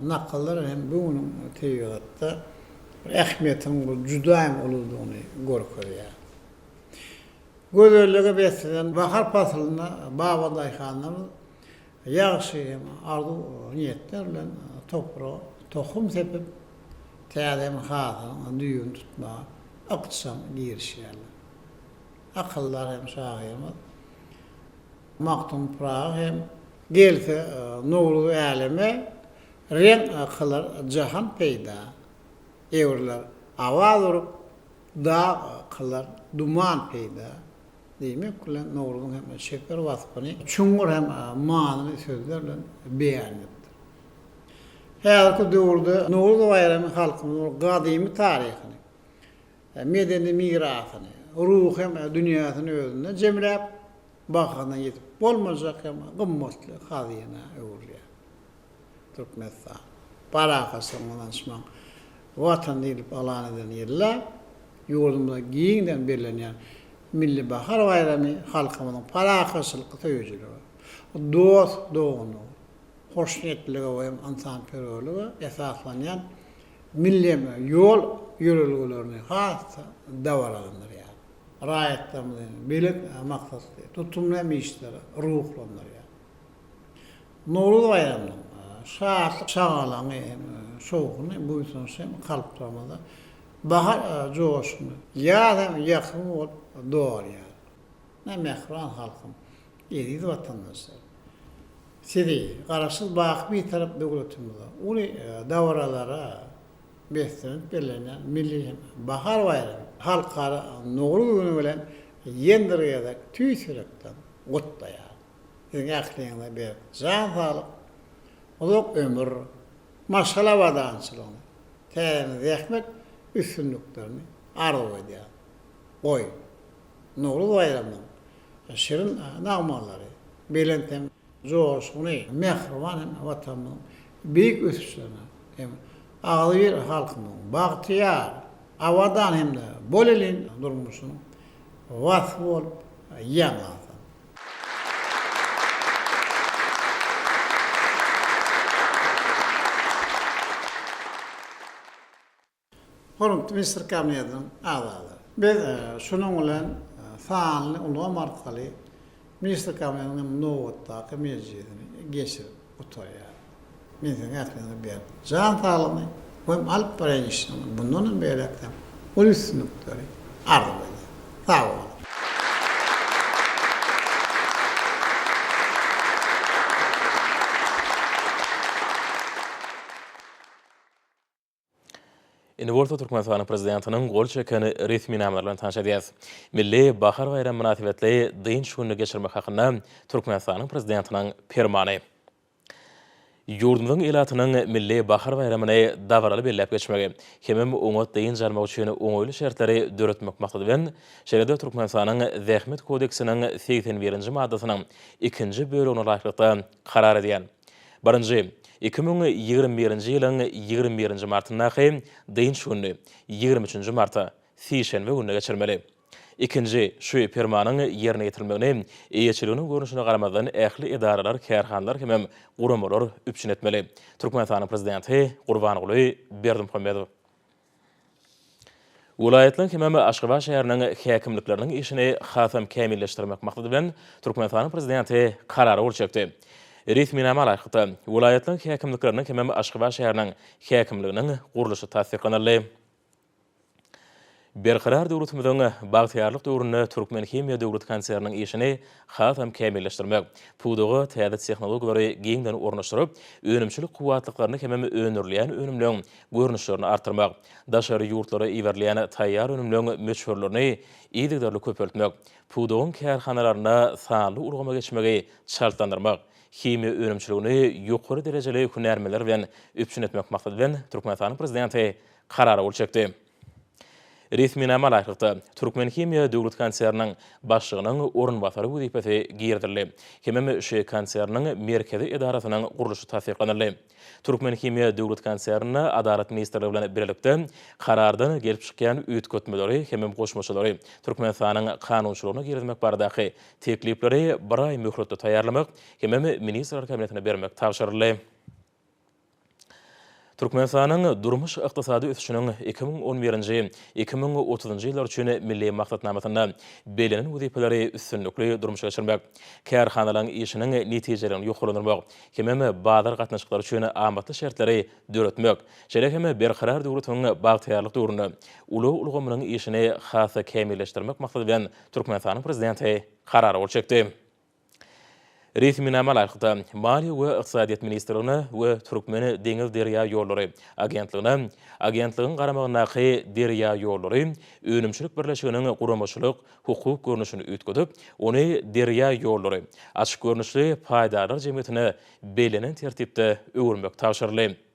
Nakallar hem bu günüň tebigatda bir ähmiýetiniň bir juda hem uludygyny görkezýär. Gözellige beslenen bahar paslynda baba daýhanlarymyz ýagşy hem arzuw niýetler bilen topraga tohum sepip, täze hem hasylyň düýbüni tutmaga ykjam girişýärler. Akyldar hem şahyrymyz Magtym Pyragy hem Gelse nurly äleme, reň kylar jahan peýda. Döwürler awaz urup, dag kylar duman peýda. Diýmek bilen, Nowruzyň hem çeper waspyny çuňňur hem manyly sözler bilen beýan edipdir. Häzirki döwürde Nowruz baýramy halkymyzyň gadymy taryhyny, medeni mirasyny, ruhy hem dünýäsini özünde jemläp, bahasyna ýetip bolmajak hem gymmatly hazynä öwrülýär. Türkmenistan, parahatçylygyň, ynanyşmagyň Watany diýlip yglan eden ýylda ýurdumyzda giňden bellenýän Milli bahar baýramy halkymyzyň parahatçylyk söýüjilige, dost-doganlyga, hoşniýetlilige we ynsanperwerlige esaslanýan milli ýol ýörelgelerini has-da dabaralandyrýar. raýatlarymyzyň belent maksatly, tutumly hem işleri ruhlandyrýar. Nowruz baýramynyň şatlyk-şagalaňy hem şowhuny, buýsanç hem kalplarymyzda bahar joşuny, ýaz hem ýakym bolup dolýar. Mähriban halkym, eziz watandaşlarym! Sizi Garaşsyz, baky Bitarap döwletimize, uly dabaralara beslenip bellenýän milli hem bahar baýramy, Halkara Nowruz güni bilen ýene bir gezek tüýs ýürekden gutlaýarys. Siziň ähliňize berk jan saglyk, uzak ömür, maşgala abadançylygyny, täzeden zähmet üstünliklerini arzuw edýäris. Goý, Nowruz baýramynyň şirin nagmalary belent hem. joşguny, mähriban hem Watanymyzyň beýik ösüşlerine hem agzybir halkymyzyň bagtyýar, abadan hem-de bolelin durmuşynyň waspy bolup ýaňlansyn! Hormatly Ministr Kabinetiniň agzalary! Biz şunuň bilen sanly ulgam arkaly Ministr Kabinetiniň nobatdaky mejlisini geçirip gutarýarys. Men siziň ähliňize berk jan saglygyny we alyp barýan işiňizde mundan hem beýläkde uly üstünlikleri arzuw edýän. Sag boluň! Indi bolsa Türkmenistanyň Prezidentiniň gol çeken resminama bilen tanyş edýäris. Milli bahar baýramy mynasybetli dynç gününi geçirmek hakynda Türkmenistanyň Prezidentiniň Permany. Ýurdumyzyň ilatynyň milli bahar baýramyny dabaraly belläp geçmegi hemem oňat dynç almak üçin oňaýly şertleri döretmek maksady bilen, şeýle-de Türkmenistanyň Zähmet kodeksiniň segsen birinji maddasynyň ikinji bölegine laýyklykda karar edýän, Birinji, iki müň ýigrimi birinji ýylyň ýigrimi birinji martyndaky dynç gününi ýigrimi üçünji marta, sişenbe gününe geçirmeli. Ikinji, şu Permanyň ýerine ýetirilmegini eýeçiliginiň görnüşine garamazdan ähli edaralar, kärhanalar hemem guramalar üpjün etmeli. Türkmenistanyň Prezidenti Gurbanguly Berdimuhamedow. Welaýatlaryň hemem Aşgabat şäheriniň häkimlikleriniň işini hasam kämilleşdirmek maksady bilen, Türkmenistanyň Prezidenti Karara gol çekdi. Resminama laýyklykda, welaýatlaryň häkimlikleriniň hemem Aşgabat şäheriniň häkimliginiň gurluşy tassyklanyldy. Berkarar döwletimiziň bagtyýarlyk döwründe Türkmenhimiýa döwlet konserniniň işini hasam kämilleşdirmek, pudaga täze tehnologiýalary giňden ornaşdyryp, önümçilik kuwwatlyklaryny hemem öndürilýän önümleň görnüşlerini artdyrmak, daşary ýurtlara iberilýän taýýar önümleriň möçberlerini yzygiderli köpeltmek, pudagyň kärhanalarynda sanly ulgama geçmegi çaltlandyrmak, himiýa önümçiligini ýokary derejeli hünärmenler bilen üpjün etmek maksady bilen Türkmenistanyň Prezidenti Karara gol çekdi. Resminama laýyklykda, Türkmenhimiýa döwlet konserniniň başlygynyň orunbasary wezipesi girizildi hemem ŞHEY konserniniň merkezi edarasynyň gurluşy tassyklanyldy. Türkmenhimiýa döwlet konsernine Adalat ministrligi bilen bilelikde Karardan gelip çykýan üýtgetmeleri hemem goşmaçalary Türkmenistanyň kanunçylygyna girizmek baradaky teklipleri bir aý möhletde taýýarlamak hemem Ministrler Kabinetine bermek tabşyryldy. Türkmenistanyň durmuş-ykdysady ösüşiniň iki müň on birinji, iki müň otuzynjy ýyllar üçin Milli maksatnamasynda bellenen wezipeleri üstünlikli durmuşa geçirmek, kärhanalaryň işiniň netijeligini ýokarlandyrmak hemem bazar gatnaşyklary üçin amatly şertleri döretmek, şeýle hem Berkarar döwletiň bagtyýarlyk döwründe ulag ulgamynyň işini has-da kämilleşdirmek maksady bilen Türkmenistanyň Prezidenti Karar gol çekdi. Resminama laýyklykda, Maliýe we ykdysadyýet ministrligine we Türkmen deňiz-derýaýollary agentligine Agentligiň garamagyndaky Derýaýollary önümçilik birleşiginiň guramaçylyk, hukuk görnüşini üýtgedip, ony Derýaýollary açyk görnüşli paýdarlar jemgyýetine bellenen tertipde öwürmek tabşyryldy.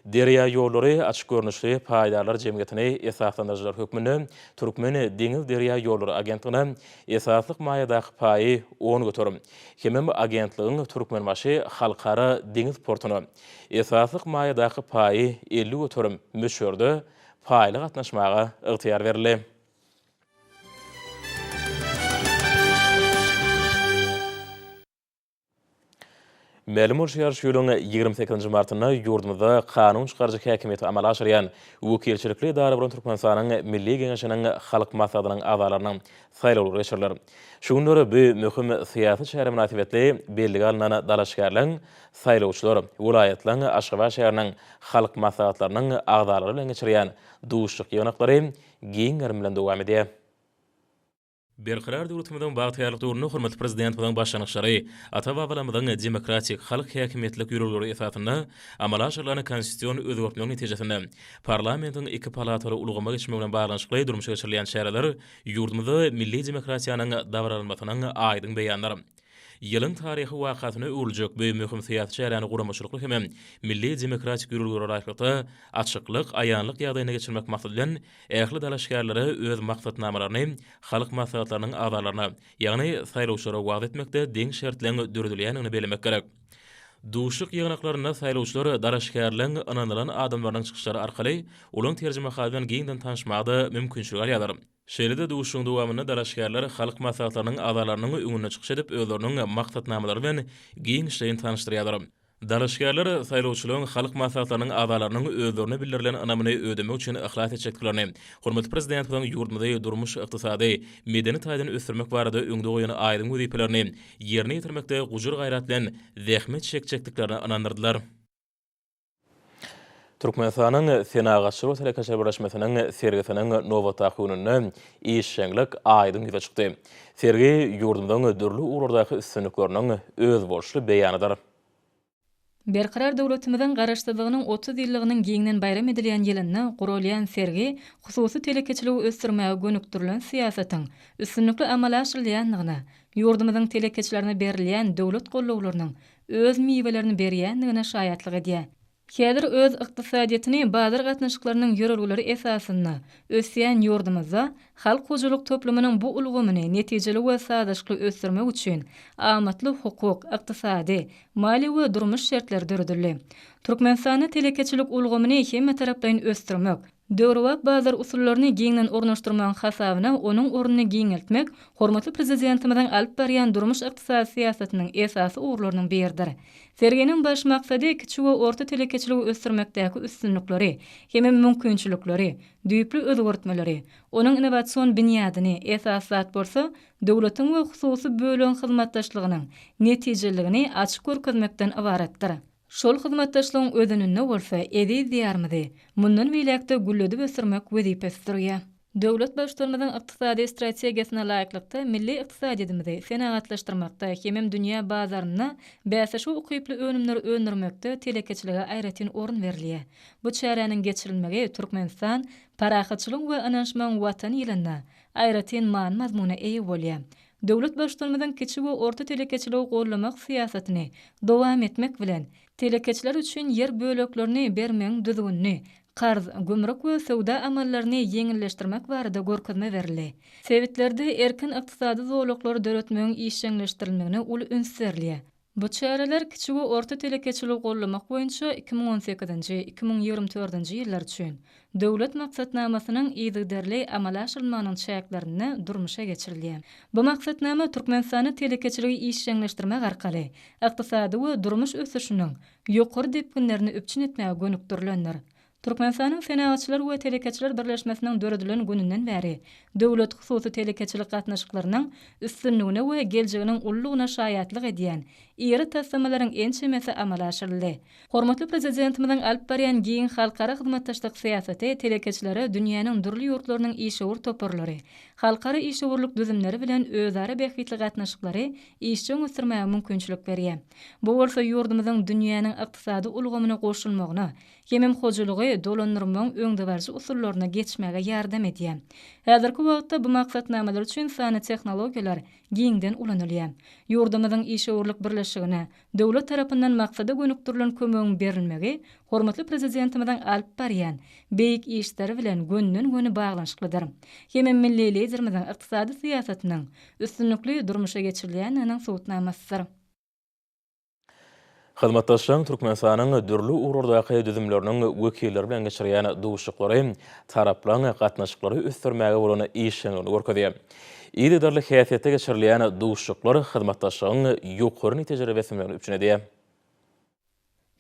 Derýaýollary açyk görnüşli paýdarlar jemgyýetini esaslandyryjylar hökmünde Türkmen deňizderýaýollary agentligine esaslyk maýadaky paýy on göterim hemem agentligiň Türkmenbaşy Halkara deňiz portuna esaslyk maýadaky paýy elli göterim möçberde paýly gatnaşmaga ygtyýar berildi. Mälim bolşy ýaly, şu ýylyň ýigrimi sekizinji martynda ýurdumyzda kanun çykaryjy häkimiýeti amala aşyrýan wekilçilikli edara bolan Türkmenistanyň Milli Geňeşiniň Halk Maslahatynyň azalarynyň saýlawlary geçiriler. Şu günler bu möhüm syýasy çäre mynasybetli bellige alnan dalaşgärler, saýlawçylar welaýatlaryň, Aşgabat şäheriniň Halk Maslahatlarynyň agzalary bilen geçirýän duşuşyk-ýygnaklary giň gerim bilen dowam edýär. Berkarar döwletimiziň bagtyýarlyk döwründe hormatly Prezidentimiziň başlangyçlary, ata-babalarymyzyň demokratik, halk häkimiýetlik ýörelgeleri esasynda amala aşyrylan konstitusion özgertmeler netijesinde parlamentiň iki palataly ulgama geçmegi bilen baglanyşykly durmuşa geçirilýän çäreler ýurdumyzda milli demokratiýanyň dabaralanmasynyň aýdyň beýanydyr. Ýylyň taryhy wakasyna öwrüljek bu möhüm syýasy çäräni guramaçylykly hem-ä milli demokratik ýörelgelere laýyklykda, açyklyk, aýanlyk ýagdaýynda geçirmek maksady bilen, ähli dalaşgärlere öz maksatnamalaryny halk maslahatlarynyň agzalaryna, ýagny saýlawçylara wagyz etmekde deň şertleň döredilýändigini bellemek gerek. Duşuşyk ýygnaklarynda saýlawçylar dalaşgärleň ynanylan adamlarynyň çykyşlary arkaly olaň terjimehaly bilen giňden tanyşmaga-da mümkinçilik alýarlar. Şeýle-de duşuşygyň dowamynda dalaşgärler Halk Maslahatlarynyň agzalarynyň öňünde çykyş edip, özleriniň maksatnamalary bilen giňişleýin tanyşdyrýarlar. Dalaşgärler saýlawçylaryň Halk Maslahatlarynyň agzalarynyň özlerine bildirilen ynamyny ödemek üçin yhlas etjekdiklerini, hormatly Prezidentimiziň ýurdumyzy durmuş-ykdysady, medeni taýdan ösdürmek barada öňde goýan aýdyň wezipelerini ýerine ýetirmekde gujur-gaýrat bilen zähmet çekjekdiklerine ynandyrdylar. Türkmenistanyň Senagatçylar we telekeçiler birleşmesiniň sergisiniň nobatdaky gününde işjeňlik aýdyň ýüze çykdy. Sergi ýurdumyzyň dürli ugurlardaky üstünlikleriniň özboluşly beýanydyr. Berkarar döwletimiziň Garaşsyzlygynyň otuz ýyllygynyň giňden baýram edilýän ýylynda guralýan sergi hususy telekeçiligi ösdürmäge gönükdirilen syýasatyň üstünlikli amala aşyrylýandygyna, ýurdumyzyň telekeçilerine berilýän döwlet gollawlarynyň öz miwelerini berýändigine şaýatlyk edýär. Häzir öz ykdysadyýetini bazar gatnaşyklarynyň ýörelgeleri esasynda ösýän ýurdumyzda halk hojalyk toplumynyň bu ulgamyny netijeli we sazlaşykly ösdürmek üçin amatly hukuk, ykdysady, maliýe we durmuş şertleri döredildi. Türkmenistanda telekeçilik ulgamyny hemmetaraplaýyn ösdürmek, Döwrebap bazar usullaryny giňden ornaşdyrmagyň hasabyna onuň ornuny giňeltmek hormatly Prezidentimiziň alyp barýan durmuş-ykdysady syýasatynyň esasy ugurlarynyň biridir. Serginiň baş maksady kiçi we orta telekeçiligi ösdürmekdäki üstünlikleri hem-ä mümkinçilikleri, düýpli özgertmeleri, onuň innowasion binýadyny, esasy zat bolsa, döwletiň we hususy bölegiň hyzmatdaşlygynyň netijeliligini açyp görkezmekden ybaratdyr. Şol hyzmatdaşlygyň özeninde bolsa eziz Diýarymyzy mundan beýläk-de gülledip ösdürmek wezipesi durýar. Döwlet Baştutanymyzyň ykdysady strategiýasyna laýyklykda, milli ykdysadyýetimizi senagatlaşdyrmakda hemem dünýä bazarynda bäsleşige ukyply önümleri öndürmekde telekeçilige aýratyn orun berilýär. Bu çäräniň geçirilmegi Türkmenistan, parahatçylygyň we ynanyşmagyň Watany ýylynda aýratyn many-mazmuna eýe bolýar. Döwlet Baştutanymyzyň kiçi we orta telekeçiligi goldamak syýasatyny dowam etmek bilen, telekeçiler üçin ýer böleklerini bermegiň düzgünini, karz, gümrük we söwda amallaryny ýeňilleşdirmek barada görkezme berildi. Sebitlerde erkin ykdysady zolaklary döretmegiň işjeňleşdirilmegine uly üns berilýär. Bu çäreler kiçi we orta telekeçiligi gollamak boýunça iki müň on sekizinji, iki müň ýigrimi dördünji ýyllar üçin Döwlet maksatnamasynyň yzygiderli amala aşyrylmagynyň çäklerinde durmuşa geçirilýär. Bu maksatnama Türkmenistanda telekeçiligi işjeňleşdirmek arkaly ykdysady we durmuş ösüşiniň ýokary depginlerini üpjün etmäge gönükdirilendir. Türkmenistanyň Senagatçylar we telekeçiler birleşmesiniň döredilen gününden bäri döwlet-hususy telekeçilik gatnaşyklarynyň üstünligine we geljeginiň ululygyna şaýatlyk edýän iri taslamalaryň ençemesi amala aşyryldy. Hormatly Prezidentimiziň alyp barýan giň halkara hyzmatdaşlyk syýasaty telekeçilere dünýäniň dürli ýurtlarynyň işewür toparlary, halkara işewürlik düzümleri bilen özara bähbitli gatnaşyklary işjeň ösdürmäge mümkinçilik berýär. Bu bolsa ýurdumyzyň dünýäniň ykdysady ulgamyna goşulmagyna, Hemem hojalygy dolandyrmagyň öňdebaryjy usullaryna geçmäge ýardam edýär. Häzirki wagtda bu maksatnamalar üçin sanly tehnologiýalar giňden ulanylýar. Ýurdumyzyň işewürlik birleşigine döwlet tarapyndan maksada gönükdirilen kömegiň berilmegi hormatly Prezidentimiziň alyp barýan beýik işleri bilen gönden-göni baglanyşyklydyr. Hemem milli Liderimiziň ykdysady syýasatynyň üstünlikli durmuşa geçirilýändiginiň subutnamasydyr. Hyzmatdaşlygyň Türkmenistanyň dürli ugurlardaky düzümleriniň wekilleri bilen geçirýän duşuşyklary taraplaryň gatnaşyklary ösdürmäge bolan işjeňligini görkezýär. Yzygiderli häsiýetde geçirilýän duşuşyklar hyzmatdaşlygyň ýokary netijeli beslenmegini üpjün edýär.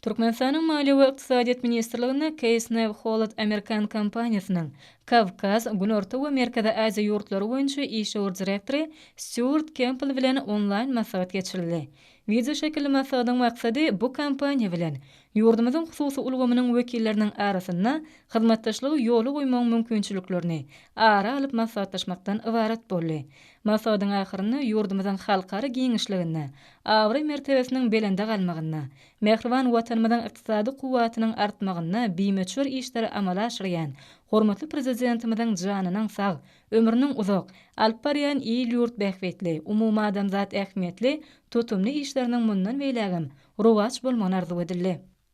Türkmenistanyň Maliýe we ykdysadyýet ministrliginde Keýsnewholod amerikan kompaniýasynyň Kawkaz, Günorta we Merkezi Aziýa ýurtlary boýunça işewür direktory Stýuart Kempbell bilen onlaýn maslahat geçirildi. Wideoşekilli maslahatyň maksady bu kompaniýa bilen ýurdumyzyň hususy ulgamynyň wekilleriniň arasynda hyzmatdaşlygy ýola goýmagyň mümkinçiliklerini ara alyp maslahatlaşmakdan ybarat boldy. Maslahatyň ahyrynda ýurdumyzyň halkara giňişliginde abraý-mertebesiniň belende galmagynda, mähriban Watanymyzyň ykdysady kuwwatynyň artmagynda bimöçber işleri amala aşyrýan hormatly Prezidentimiziň janynyň sag, Ömrüniň uzak, alyp barýan il-ýurt bähbitli, umumadamzat ähmiýetli tutumly işleriniň mundan beýlägem rowaç bolmagyny arzuw edildi.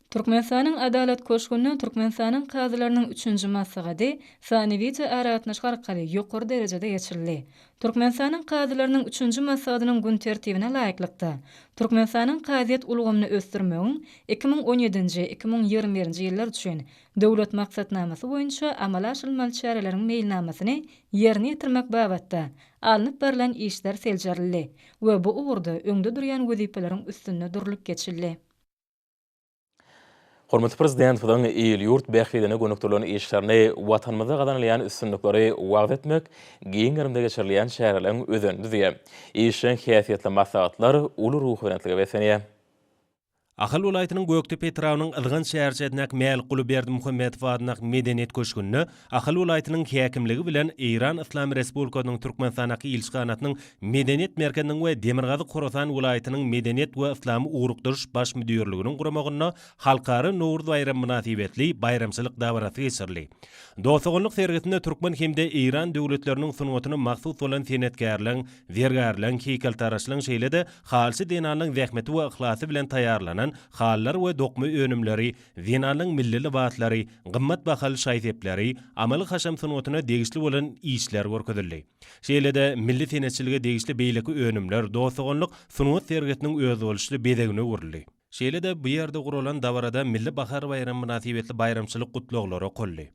Türkmenistanyň Adalat köşgünde Türkmenistanyň kazylarynyň üçünji maslahaty sany wideo aragatnaşyk arkaly ýokary derejede geçirildi. Türkmenistanyň kazylarynyň üçünji maslahatynyň gün tertibine laýyklykda, Türkmenistanyň kazyýet ulgamyny ösdürmegiň iki müň on ýedinji, iki müň ýigrimi birinji ýyllar üçin Döwlet maksatnamasy boýunça amala aşyrylmaly çäreleriň meýilnamasyny ýerine ýetirmek babatda alnyp barlan işler seljerildi we bu ugurda öňde durýan wezipeleriň üstünde durlup geçildi. Hormatly Prezidentimiziň il-ýurt bähbidine gönükdirilen işlerini, Watanymyzda gazanylýan üstünlikleri wagyz etmek, giň gerimde geçirilýän çäreleriň özenini düzýär. Işjeň häsiýetli maslahatlar uly ruhubelentlige beslenýär. Ahal welaýatynyň Gökdepe etrabynyň Yzgant şäherçesindäki Mälikguly Berdimuhamedow adyndaky Medeniýet köşgünde Ahal welaýatynyň häkimligi bilen Eýran Yslam Respublikasynyň Türkmenistandaky ilçihanasynyň Medeniýet merkeziniň we Demirgazyk-Horasan welaýatynyň Medeniýet we yslamy ugrukdyryş baş müdirliginiň guramagynda Halkara Nowruz baýramy mynasybetli baýramçylyk dabarasy geçirildi. Dost-doganlyk sergisinde türkmen hem-de eýran döwletleriniň sungatyna mahsus bolan senetkärleň Zergärleň, heýkeltaraşlaň şeýle-de halçy zenanlaň zähmeti we yhlasy bilen taýýarlanan halylar we dokma önümleri, zenanlaň milli lybaslary, gymmat bahaly şaý-sepleri, amaly-haşam sungatyna degişli bolan işler görkezildi. Şeýle-de milli senetçilige degişli beýleki önümler, dost-doganlyk sungat sergisiniň özboluşly bezegine öwrüldi. Şeýle-de, bu ýerde guralan dabarada Milli bahar baýramy mynasybetli baýramçylyk gutlaglary okaldy.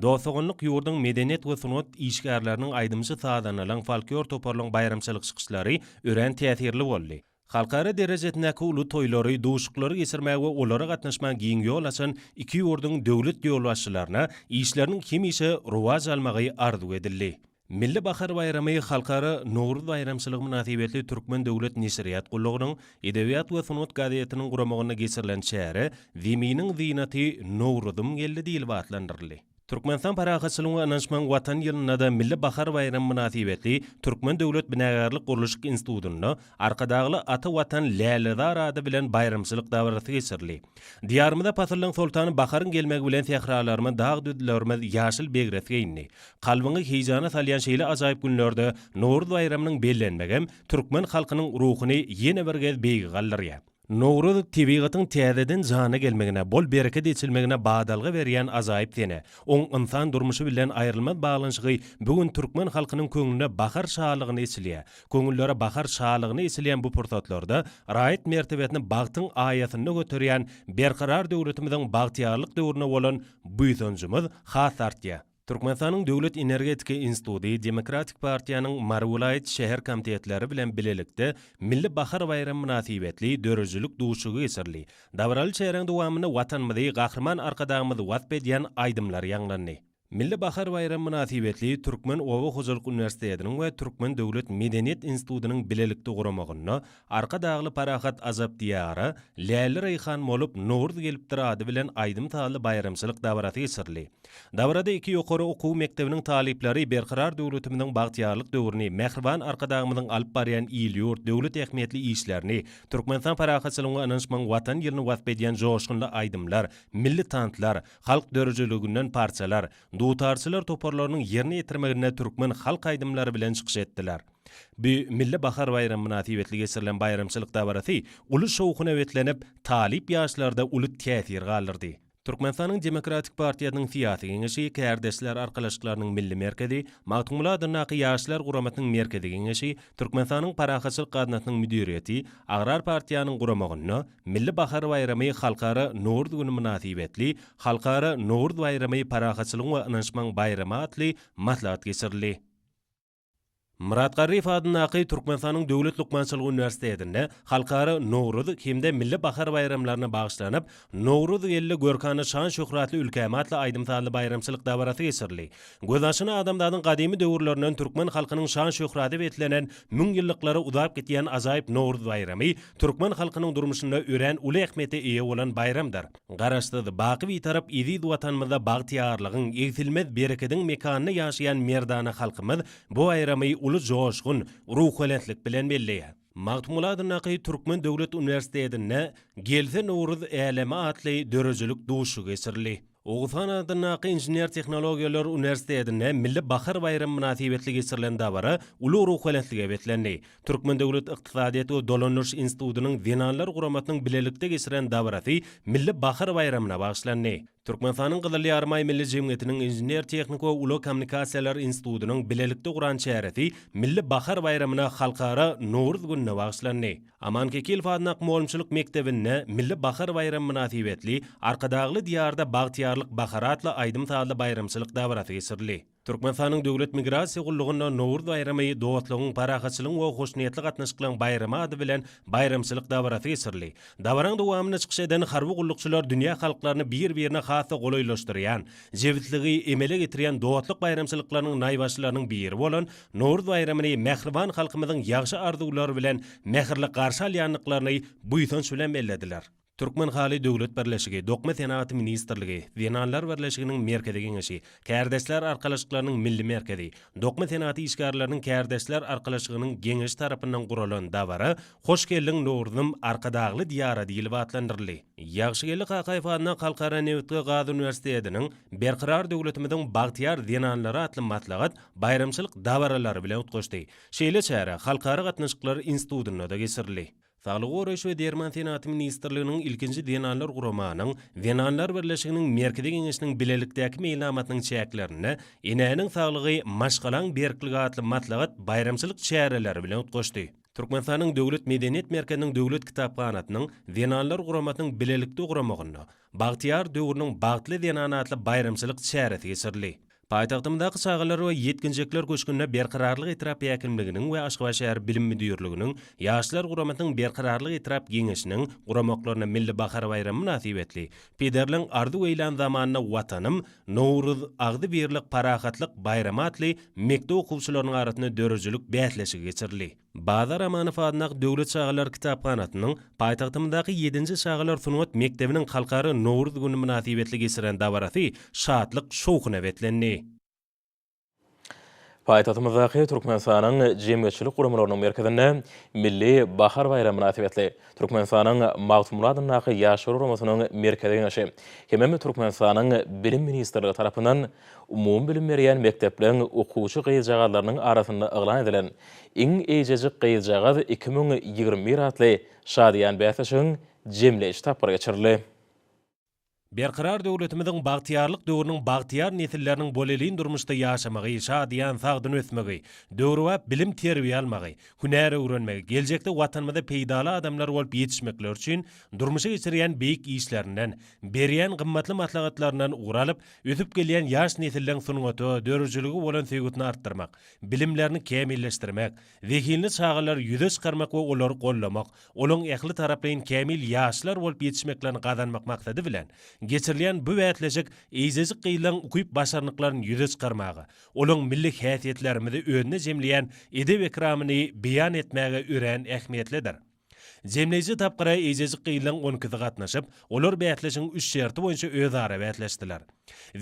Dost-doganlyk ýurduň medeniýet we sungat işgärleriniň aýdymçy-sazandalaryň folklor toparlaryň baýramçylyk çykyşlary örän täsirli boldy. Halkara derejesindäki uly toýlary, duşuklary geçirmäge we olara gatnaşmaga giň ýol açan iki ýurduň döwlet ýolbaşçylaryna işleriniň hemişe rowaç almagy arzuw edildi. Milli bahar baýramy Halkara Nowruz baýramçylygy mynasybetli Türkmen döwlet neşirýat gullugynyň Edebiýat we sungat gazetiniň guramagynda geçirilen çäre Zeminiň zynaty, Nowruzym geldi diýlip atlandyryldy. Türkmenistan parahatçylygyň we ynançmagyň Watan ýylynda-da Milli bahar baýramy mynasybetli Türkmen döwlet binagärlik-gurluşyk institutynda Arkadagly ata Watan lälezar ady bilen baýramçylyk dabarasy geçirildi. Diýarymyza pasyllaryň soltany baharyň gelmegi bilen sähralarymyz, dag-düzlerimiz ýaşyl begres geýindi. Kalbyňy heýjana salýan şeýle ajaýyp günlerde Nowruz baýramynyň bellenmegem türkmen halkynyň ruhuny ýene bir gez beýige galdyrýar. Nowruz, tebigatyň täzeden jana gelmegine, bol-bereket eçilmegine badalga berýän ajaýyp sene. Oň ynsan durmuşy bilen aýrylmaz baglanyşygy bu gün türkmen halkynyň köňlüne bahar şalygyny eçilýär. Köňüllere bahar şalygyny eçilýän bu pursatlarda raýat mertebesini bagtyň aýasynda göterýän Berkarar döwletimiziň bagtyýarlyk döwrüne bolan buýsanjymyz has artýar. Türkmenistanyň Döwlet energetika instituty Demokratik partiýanyň Mary welaýat şäher komitetleri bilen bilelikde Milli bahar baýramy mynasybetli döredijilik duşuşygy geçirildi. Dabaraly çäräň dowamynda Watanymyzy, Gahryman Arkadagymyzy wasp edýän aýdymlar ýaňlandy. Milli bahar baýramy mynasybetli Türkmen oba hojalyk uniwersitetiniň we Türkmen döwlet medeniýet institutynyň bilelikde guramagynda Arkadagly Parahat Azap Diýara, Läli-Reýhan bolup, Nowruz gelipdir ady bilen aýdym-sazly baýramçylyk dabarasy geçirildi. Dabarada iki ýokary okuw mekdebiniň talyplary Berkarar döwletimiziň bagtyýarlyk döwrüni, mähriban Arkadagymyzyň alyp barýan il-ýurt, döwlet ähmiýetli işlerini, Türkmenistan parahatçylygyň we ynanyşmagyň Watan ýylyny wasp edýän joşgunly aýdymlar, milli tanslar, halk döredijiliginden parçalar, dutarçylar toparlarynyň ýerine ýetirmeginde türkmen halk aýdymlary bilen çykyş etdiler. Bu Milli bahar baýramy mynasybetli geçirilen baýramçylyk dabarasy uly şowhuna beslenip, talyp ýaşlarda uly täsir galdyrdy. Türkmenistanyň Demokratik partiýasynyň Syýasy Geňeşi, Kärdeşler arkalaşyklarynyň Milli merkezi, Magtymguly adyndaky Ýaşlar guramasynyň Merkezi Geňeşi, Türkmenistanyň Parahatçylyk gaznasynyň müdiriýeti, Agrar partiýanyň guramagynda Milli bahar baýramy Halkara Nowruz güni mynasybetli Halkara Nowruz baýramy parahatçylygyň we ynanyşmagyň baýramy atly maslahat geçirildi. Myrat Garryýew adyndaky Türkmenistanyň Döwlet lukmançylyk uniwersitetinde Halkara Nowruz hem-de Milli bahar baýramlaryna bagyşlanyp, Nowruz geldi, görkana şan-şöhratly ülkäme atly aýdym-sazly baýramçylyk dabarasy geçirildi. Göz açyna adamzadyň gadymy döwürlerinden türkmen halkynyň şan-şöhrata beslenen, müň ýyllyklara uzap gidýän ajaýyp Nowruz baýramy türkmen halkynyň durmuşynda örän uly ähmiýete eýe bolan baýramdyr. Garaşsyz, baky Bitarap eziz Watanymyzda bagtyýarlygyň, egsilmez berekediň mekanynda ýaşaýan merdana halkymyz bu aýramy uly joşgun, ruhubelentlik bilen belleýär. Magtymguly adyndaky Türkmen döwlet uniwersitetinde Gelse Nowruz äleme atly döredijilik duşuşygy geçirildi. Oguzhan adyndaky Inžener-tehnologiýalar uniwersitetinde Milli bahar baýramy mynasybetli geçirilen dabara uly ruhubelentlige beslendi. Türkmen döwlet ykdysadyýet we dolandyryş institutynyň zenanlar guramasynyň bilelikde geçiren dabarasy Milli bahar baýramyna bagyşlandy. Türkmenistanyň Gyzyl Ýarymaý Milli jemgyýetiniň Inžener-tehniki we ulag kommunikasiýalary institutynyň bilelikde guran çäresi Milli bahar baýramyna Halkara Nowruz gününe bagyşlandy. Aman Kekilow adynda akmolumçylyk mekdebinde Milli bahar baýramy mynasybetli Arkadagly diýarda bagtyýarlyk bahar atly aýdym-sazly baýramçylyk dabarasy geçirildi. Türkmenistanyň Döwlet migrasiýa gullugynda Nowruz baýramy dostlugyň, parahatçylygyň we hoşniýetli gatnaşyklaryň baýramy ady bilen baýramçylyk dabarasy geçirildi. Dabaraň dowamynda çykyş eden harby gullukçylar dünýä halklaryny bir-birine has-da golaýlaşdyrýan, jebisligi emele getirýän dostluk baýramçylyklarynyň naýbaşylarynyň biri bolan Nowruz baýramyny mähriban halkymyzyň ýagşy arzuwlary bilen mähirli garşy alýandyklaryny buýsanç bilen bellediler. Türkmenhaly döwlet birleşigi, Dokma senagaty ministrligi, Zenanlar birleşiginiň Merkezi geňeşi, Kärdeşler arkalaşyklarynyň Milli merkezi, Dokma senagaty işgärleriniň kärdeşler arkalaşygynyň Geňeşi tarapyndan guralan dabara Hoş geldiň, Nowruzym, Arkadagly Diýara diýlip atlandyryldy. Ýagşygeldi Kakaýew adyndaky Halkara nebit we gaz uniwersitetiniň Berkarar döwletimiziň bagtyýar zenanlary atly maslahat baýramçylyk dabaralary bilen utgaşdy. Şeýle çäre Halkara gatnaşyklary institutynda-da geçirildi. Saglygy goraýyş we derman senaty ministrliginiň ilkinji zenanlar guramanyň Zenanlar birleşiginiň Merkezi geňeşiniň bilelikdäki meýilnamasynyň çäklerinde Enäniň saglygy, maşgalaň berkligi atly maslahat baýramçylyk çäreleri bilen utgaşdy. Türkmenistanyň Döwlet medeniýet merkeziniň Döwlet kitaphanasynyň Zenanlar guramasynyň bilelikde guramagynda Bagtyýar döwrüniň bagtly zenany atly baýramçylyk çäresi geçirildi. Paýtagtymyzdaky Çagalar we ýetginjekler köşgünde Berkararlyk etrap häkimliginiň we Aşgabat şäher bilim müdirliginiň, Ýaşlar guramasynyň Berkararlyk etrap geňeşiniň guramaklarynda Milli bahar baýramy mynasybetli Pederliň arzuw eýlän zamanynda Watanym, Nowruz, agzybirlik, parahatlyk, baýramy atly mekdep okuwçylarynyň arasynda döredijilik bäsleşigi geçirildi. Bazar Amanow adyndaky döwlet çagalar kitaphanasynyň paýtagtymyzdaky ýedinji çagalar sungat mekdebiniň Halkara Nowruz güni mynasybetli geçiren dabarasy şatlyk-şowhuna beslendi. Paýtagtymyzdaky Türkmenistanyň jemgyýetçilik guramalarynyň merkezinde Milli bahar baýramy mynasybetli Türkmenistanyň Magtymguly adyndaky Ýaşlar guramasynyň Merkezi Geňeşi hemem Türkmenistanyň Bilim ministrligi tarapyndan umumybilim berýän mekdepleriň okuwçy gyzjagazlarynyň arasynda yglan edilen Iň eýjejik gyzjagaz iki müň ýigrimi bir atly şadyýan bäsleşigiň jemleýji tapgyry geçirildi. Berkarar döwletimiziň bagtyýarlyk döwrüniň bagtyýar nesilleriniň bolelin durmuşda ýaşamagy, şadyýan, sagdyn ösmegi, döwrebap bilim-terbiýe almagy, hünär öwrenmegi, geljekde Watanymyza peýdaly adamlar bolup ýetişmekleri üçin durmuşa geçirýän beýik işlerinden, berýän gymmatly maslahatlaryndan ugur alyp, ösüp gelýän ýaş nesilleň sungata, döredijilige bolan söýgüsini artdyrmak, bilimlerini kämilleşdirmek, zehinli çagalary ýüze çykarmak we olary goldamak, olaryň ähli taraplaýyn kämil ýaşlar bolup ýetişmeklerini gazanmak maksady bilen, geçirilýän bu bäsleşik eýjejik gyzlaryň ukyp-başarnyklaryny ýüze çykarmaga, olaryň milli häsiýetlerimizi özünde jemleýän edep-ekramyny beýan etmäge örän ähmiýetlidir. Jemleýji tapgyra eýjejik gyzlaň on ikisi gatnaşyp, olar bäsleşigiň üç şerti boýunça özara bäsleşdiler.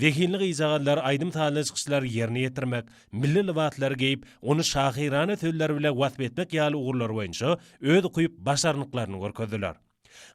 Zehinli gyzjagazlar aýdym-sazly çykyşlary ýerine ýetirmek, milli lybaslary geýip, ony şahyrana sözler bile wasp etmek ýaly ugurlar boýunça öz ukyp, başarnyklaryny görkezdiler.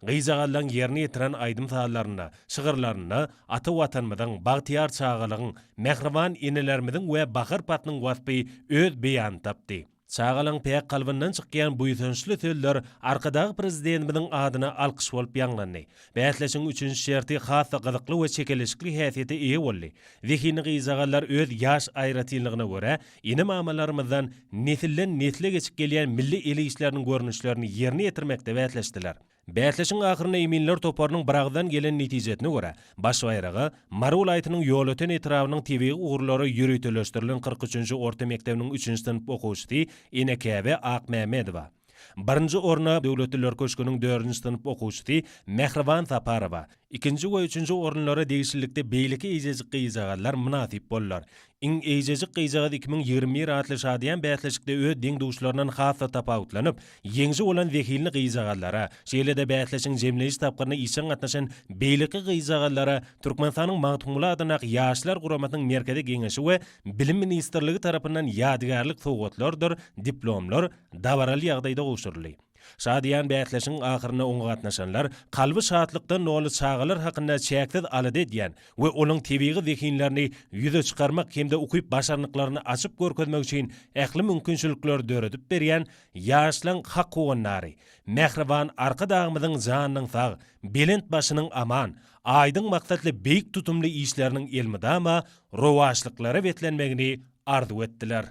Gyzjagazlaň ýerine ýetiren aýdym-sazlarynda, şygyrlarynda ata Watanymyzyň, bagtyýar çagalygyň, mähriban enelerimiziň we bahar paslyň waspy öz beýanyny tapdy. Çagalaň päk kalbyndan çykýan buýsançly sözler Arkadag Prezidentimiziň adyna alkyş bolup ýaňlandy. Bäsleşigiň üçünji şerti has-da gyzykly we çekeleşikli häsiýete eýe boldy. Zehinli gyzjagazlar öz ýaş aýratynlygyna görä, ene-mamalarymyzdan nesilden-nesle geçip gelýän milli el işleriniň görnüşlerini ýerine ýetirmekde bäsleşdiler. Bäsleşigiň ahyrynda eminler toparynyň biragyzdan gelen netijesine görä, baş baýraga Mary welaýatynyň Ýolöten etrabynyň tebigy ugurlara ýöriteleşdirilen kyrk üçünji orta mekdebiniň üçünji synp okuwçysy Enekäbe Akmämmedowa, birinji orna Döwletliler köşgüniň dördünji synp okuwçysy Mähriban Saparowa, Ikinji we üçünji orunlara degişlilikde beýleki eýjejik gyzjagazlar mynasyp boldular. Iň eýjejik gyzjagaz iki müň ýigrimi bir atly şadyýan bäsleşikde öz deň-duşlaryndan has-da tapawutlanyp, ýeňji bolan zehinli gyzjagazlara, şeýle-de bäsleşigiň jemleýji tapgyryna işjeň gatnaşan beýleki gyzjagazlara Türkmenistanyň Magtymguly adyndaky Ýaşlar guramasynyň Merkezi Geňeşi we Bilim ministrligi tarapyndan ýadygärlik sowgatlardyr diplomlar dabaraly ýagdaýda gowşuryldy. Şadyýan bäsleşigiň ahyrynda oňa gatnaşanlar kalby şatlykdan doly çagalar hakynda çäksiz alada edýän we olaň tebigy zehinlerini ýüze çykarmak hem-de ukyp-başarnyklaryny açyp görkezmek üçin ähli mümkinçilikleri döredip berýän ýaşlaň hak howandary, mähriban Arkadagymyzyň janynyň sag, belent başynyň aman, aýdyň maksatly beýik tutumly işleriniň elmydama rowaçlyklara beslenmegini arzuw etdiler.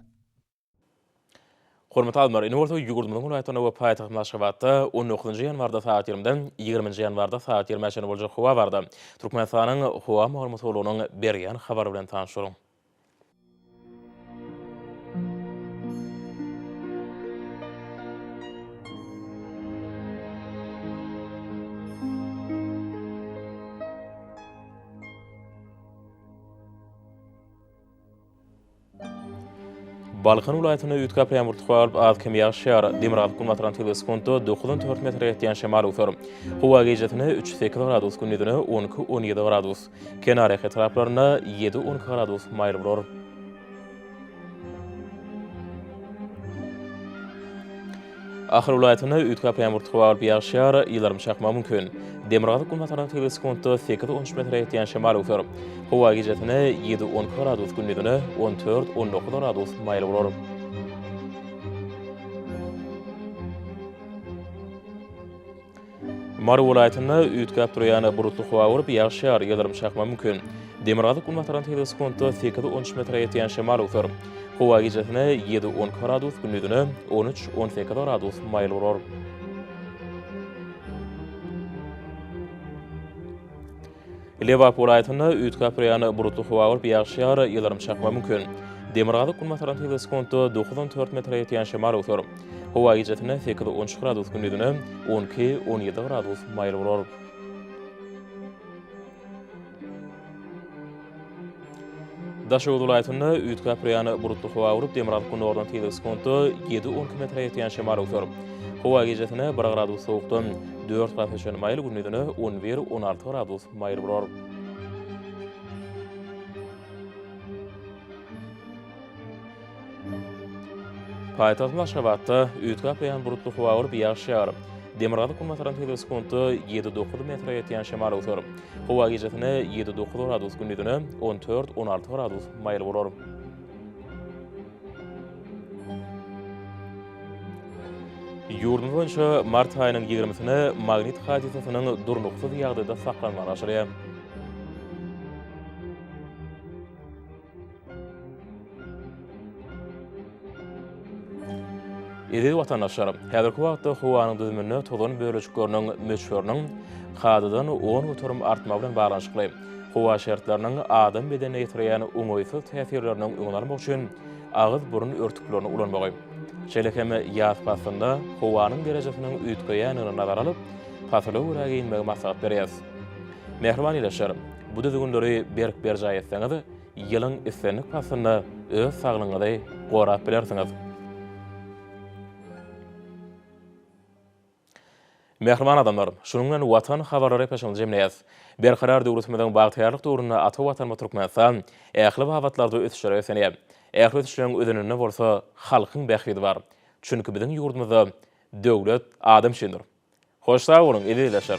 Hormatly alymlar, indi bolsa ýurdumyzyň welaýatlarynda we paýtagtymyz Aşgabatda on dokuzynjy ýanwarda sagat ýigrimiden ýigriminji ýanwarda sagat ýigrimä çenli boljak howa barada Türkmenistanyň Howa maglumat gullugynyň berýän habary bilen tanyşyň. Balkan welaýatynda üýtgäp ýamuryty howa alyp, az-kem ýagyş ýagar. Demirgazyk günbatardan tebigy sekuntda dokuzdan dört metre ýetýän şemal öwser. Howa gijasine üç-sekiz gradus, gündizine on iki-on ýedi gradus, kenarýaka etraplarynda ýedi-on iki gradus maýyl bolar. Ahal welaýatynda üýtgäp ýamuryt howa bolup ýagşýar, ýyldyrym çakmagy mümkin. Demirgazyk-günbatardan tebigy sekuntda sekiz-on üç metre ýetýän şemal öwser. Howa gijesine ýedi-on iki gradus, gündizine on dört-on dokuz gradus maýyl bolar. Mary welaýatynda üýtgäp durýan bulutly howa bolup, ýagyş ýar, ýyldyrym çakma mümkin. Demirgazyk-günbatardan tizligi sekuntda sekiz-on üç metre ýetýän şemal öwser. Howa gijesine ýedi-on iki gradus, gündizine on üç-on sekiz gradus maýyl bolar. Lebap welaýatynda üýtgäp-üýýän bulutly howa bolup, ýagyş ýar, ýyldyrym çakmagy mümkin. Demirgazyk-günbatardan tygly sekuntda dokuz on dört metre ýetýän şemal öwser. Howa gijesine sekiz on üç gradus, gündizine on iki on ýedi gradus maýyl bolar. Daşoguz welaýatynda üýtgäp-üýrýän bulutly howa bolup, demirgazyk günordan tizligi sekuntda ýedi-on km metre ýetýän şemal öwser. Howa gijesine bir gradus sowukdan dört gradusa çenli maýyl, gündizine on bir-on alty gradus maýyl bolar. Paýtagtymyz Aşgabatda üýtgäp gaýan bulutly howa bolup, ýagyş ýagar. Demirgazyk-günbatardan sekiz sekuntda ýedi-dokuz metre ýetýän şemal öwser. Howa gijesine ýedi-dokuz gradus, gündizine on dört-on alty gradus maýyl bolar. Ýurdumyz boýunça mart aýynyň ýigrimisine magnit hadysasynyň durnuksyz ýagdaýda saklanmagy aşyrýar. Eziz watandaşlar, häzirki wagtda howanyň düzüminde tozan bölejikleriniň möçberiniň kadadan on göterim artmagy bilen baglanyşykly, howa şertleriniň adam bedenine ýetirýän oňaýsyz täsirleriniň öňüni almak üçin agyz-burun örtüklerini ulanmagy, şeýle hem ýaz paslynda howanyň derejesiniň üýtgeýändigini nazara alyp, pasyla görä geýinmegi maslahat berýäris. Mähriban ildeşler! Bu düzgünleri berk berjaý etseňiz, ýylyň islendik paslynda öz saglygyňyzy gorap bilersiňiz. Mähriban adamlar, şunuň bilen Watan habarlary epeşygyny jemleýäs. Berkarar döwletimiziň bagtyýarlyk döwründe ata Watanymyz Türkmenistan ähli babatlarda ösüşlere beslenýär. Ähli ösüşleriň özeninde bolsa halkyň bähbidi bar. Çünki biziň ýurdumyzda Döwlet adam üçindir. Hoş sag boluň, eziz ildeşler!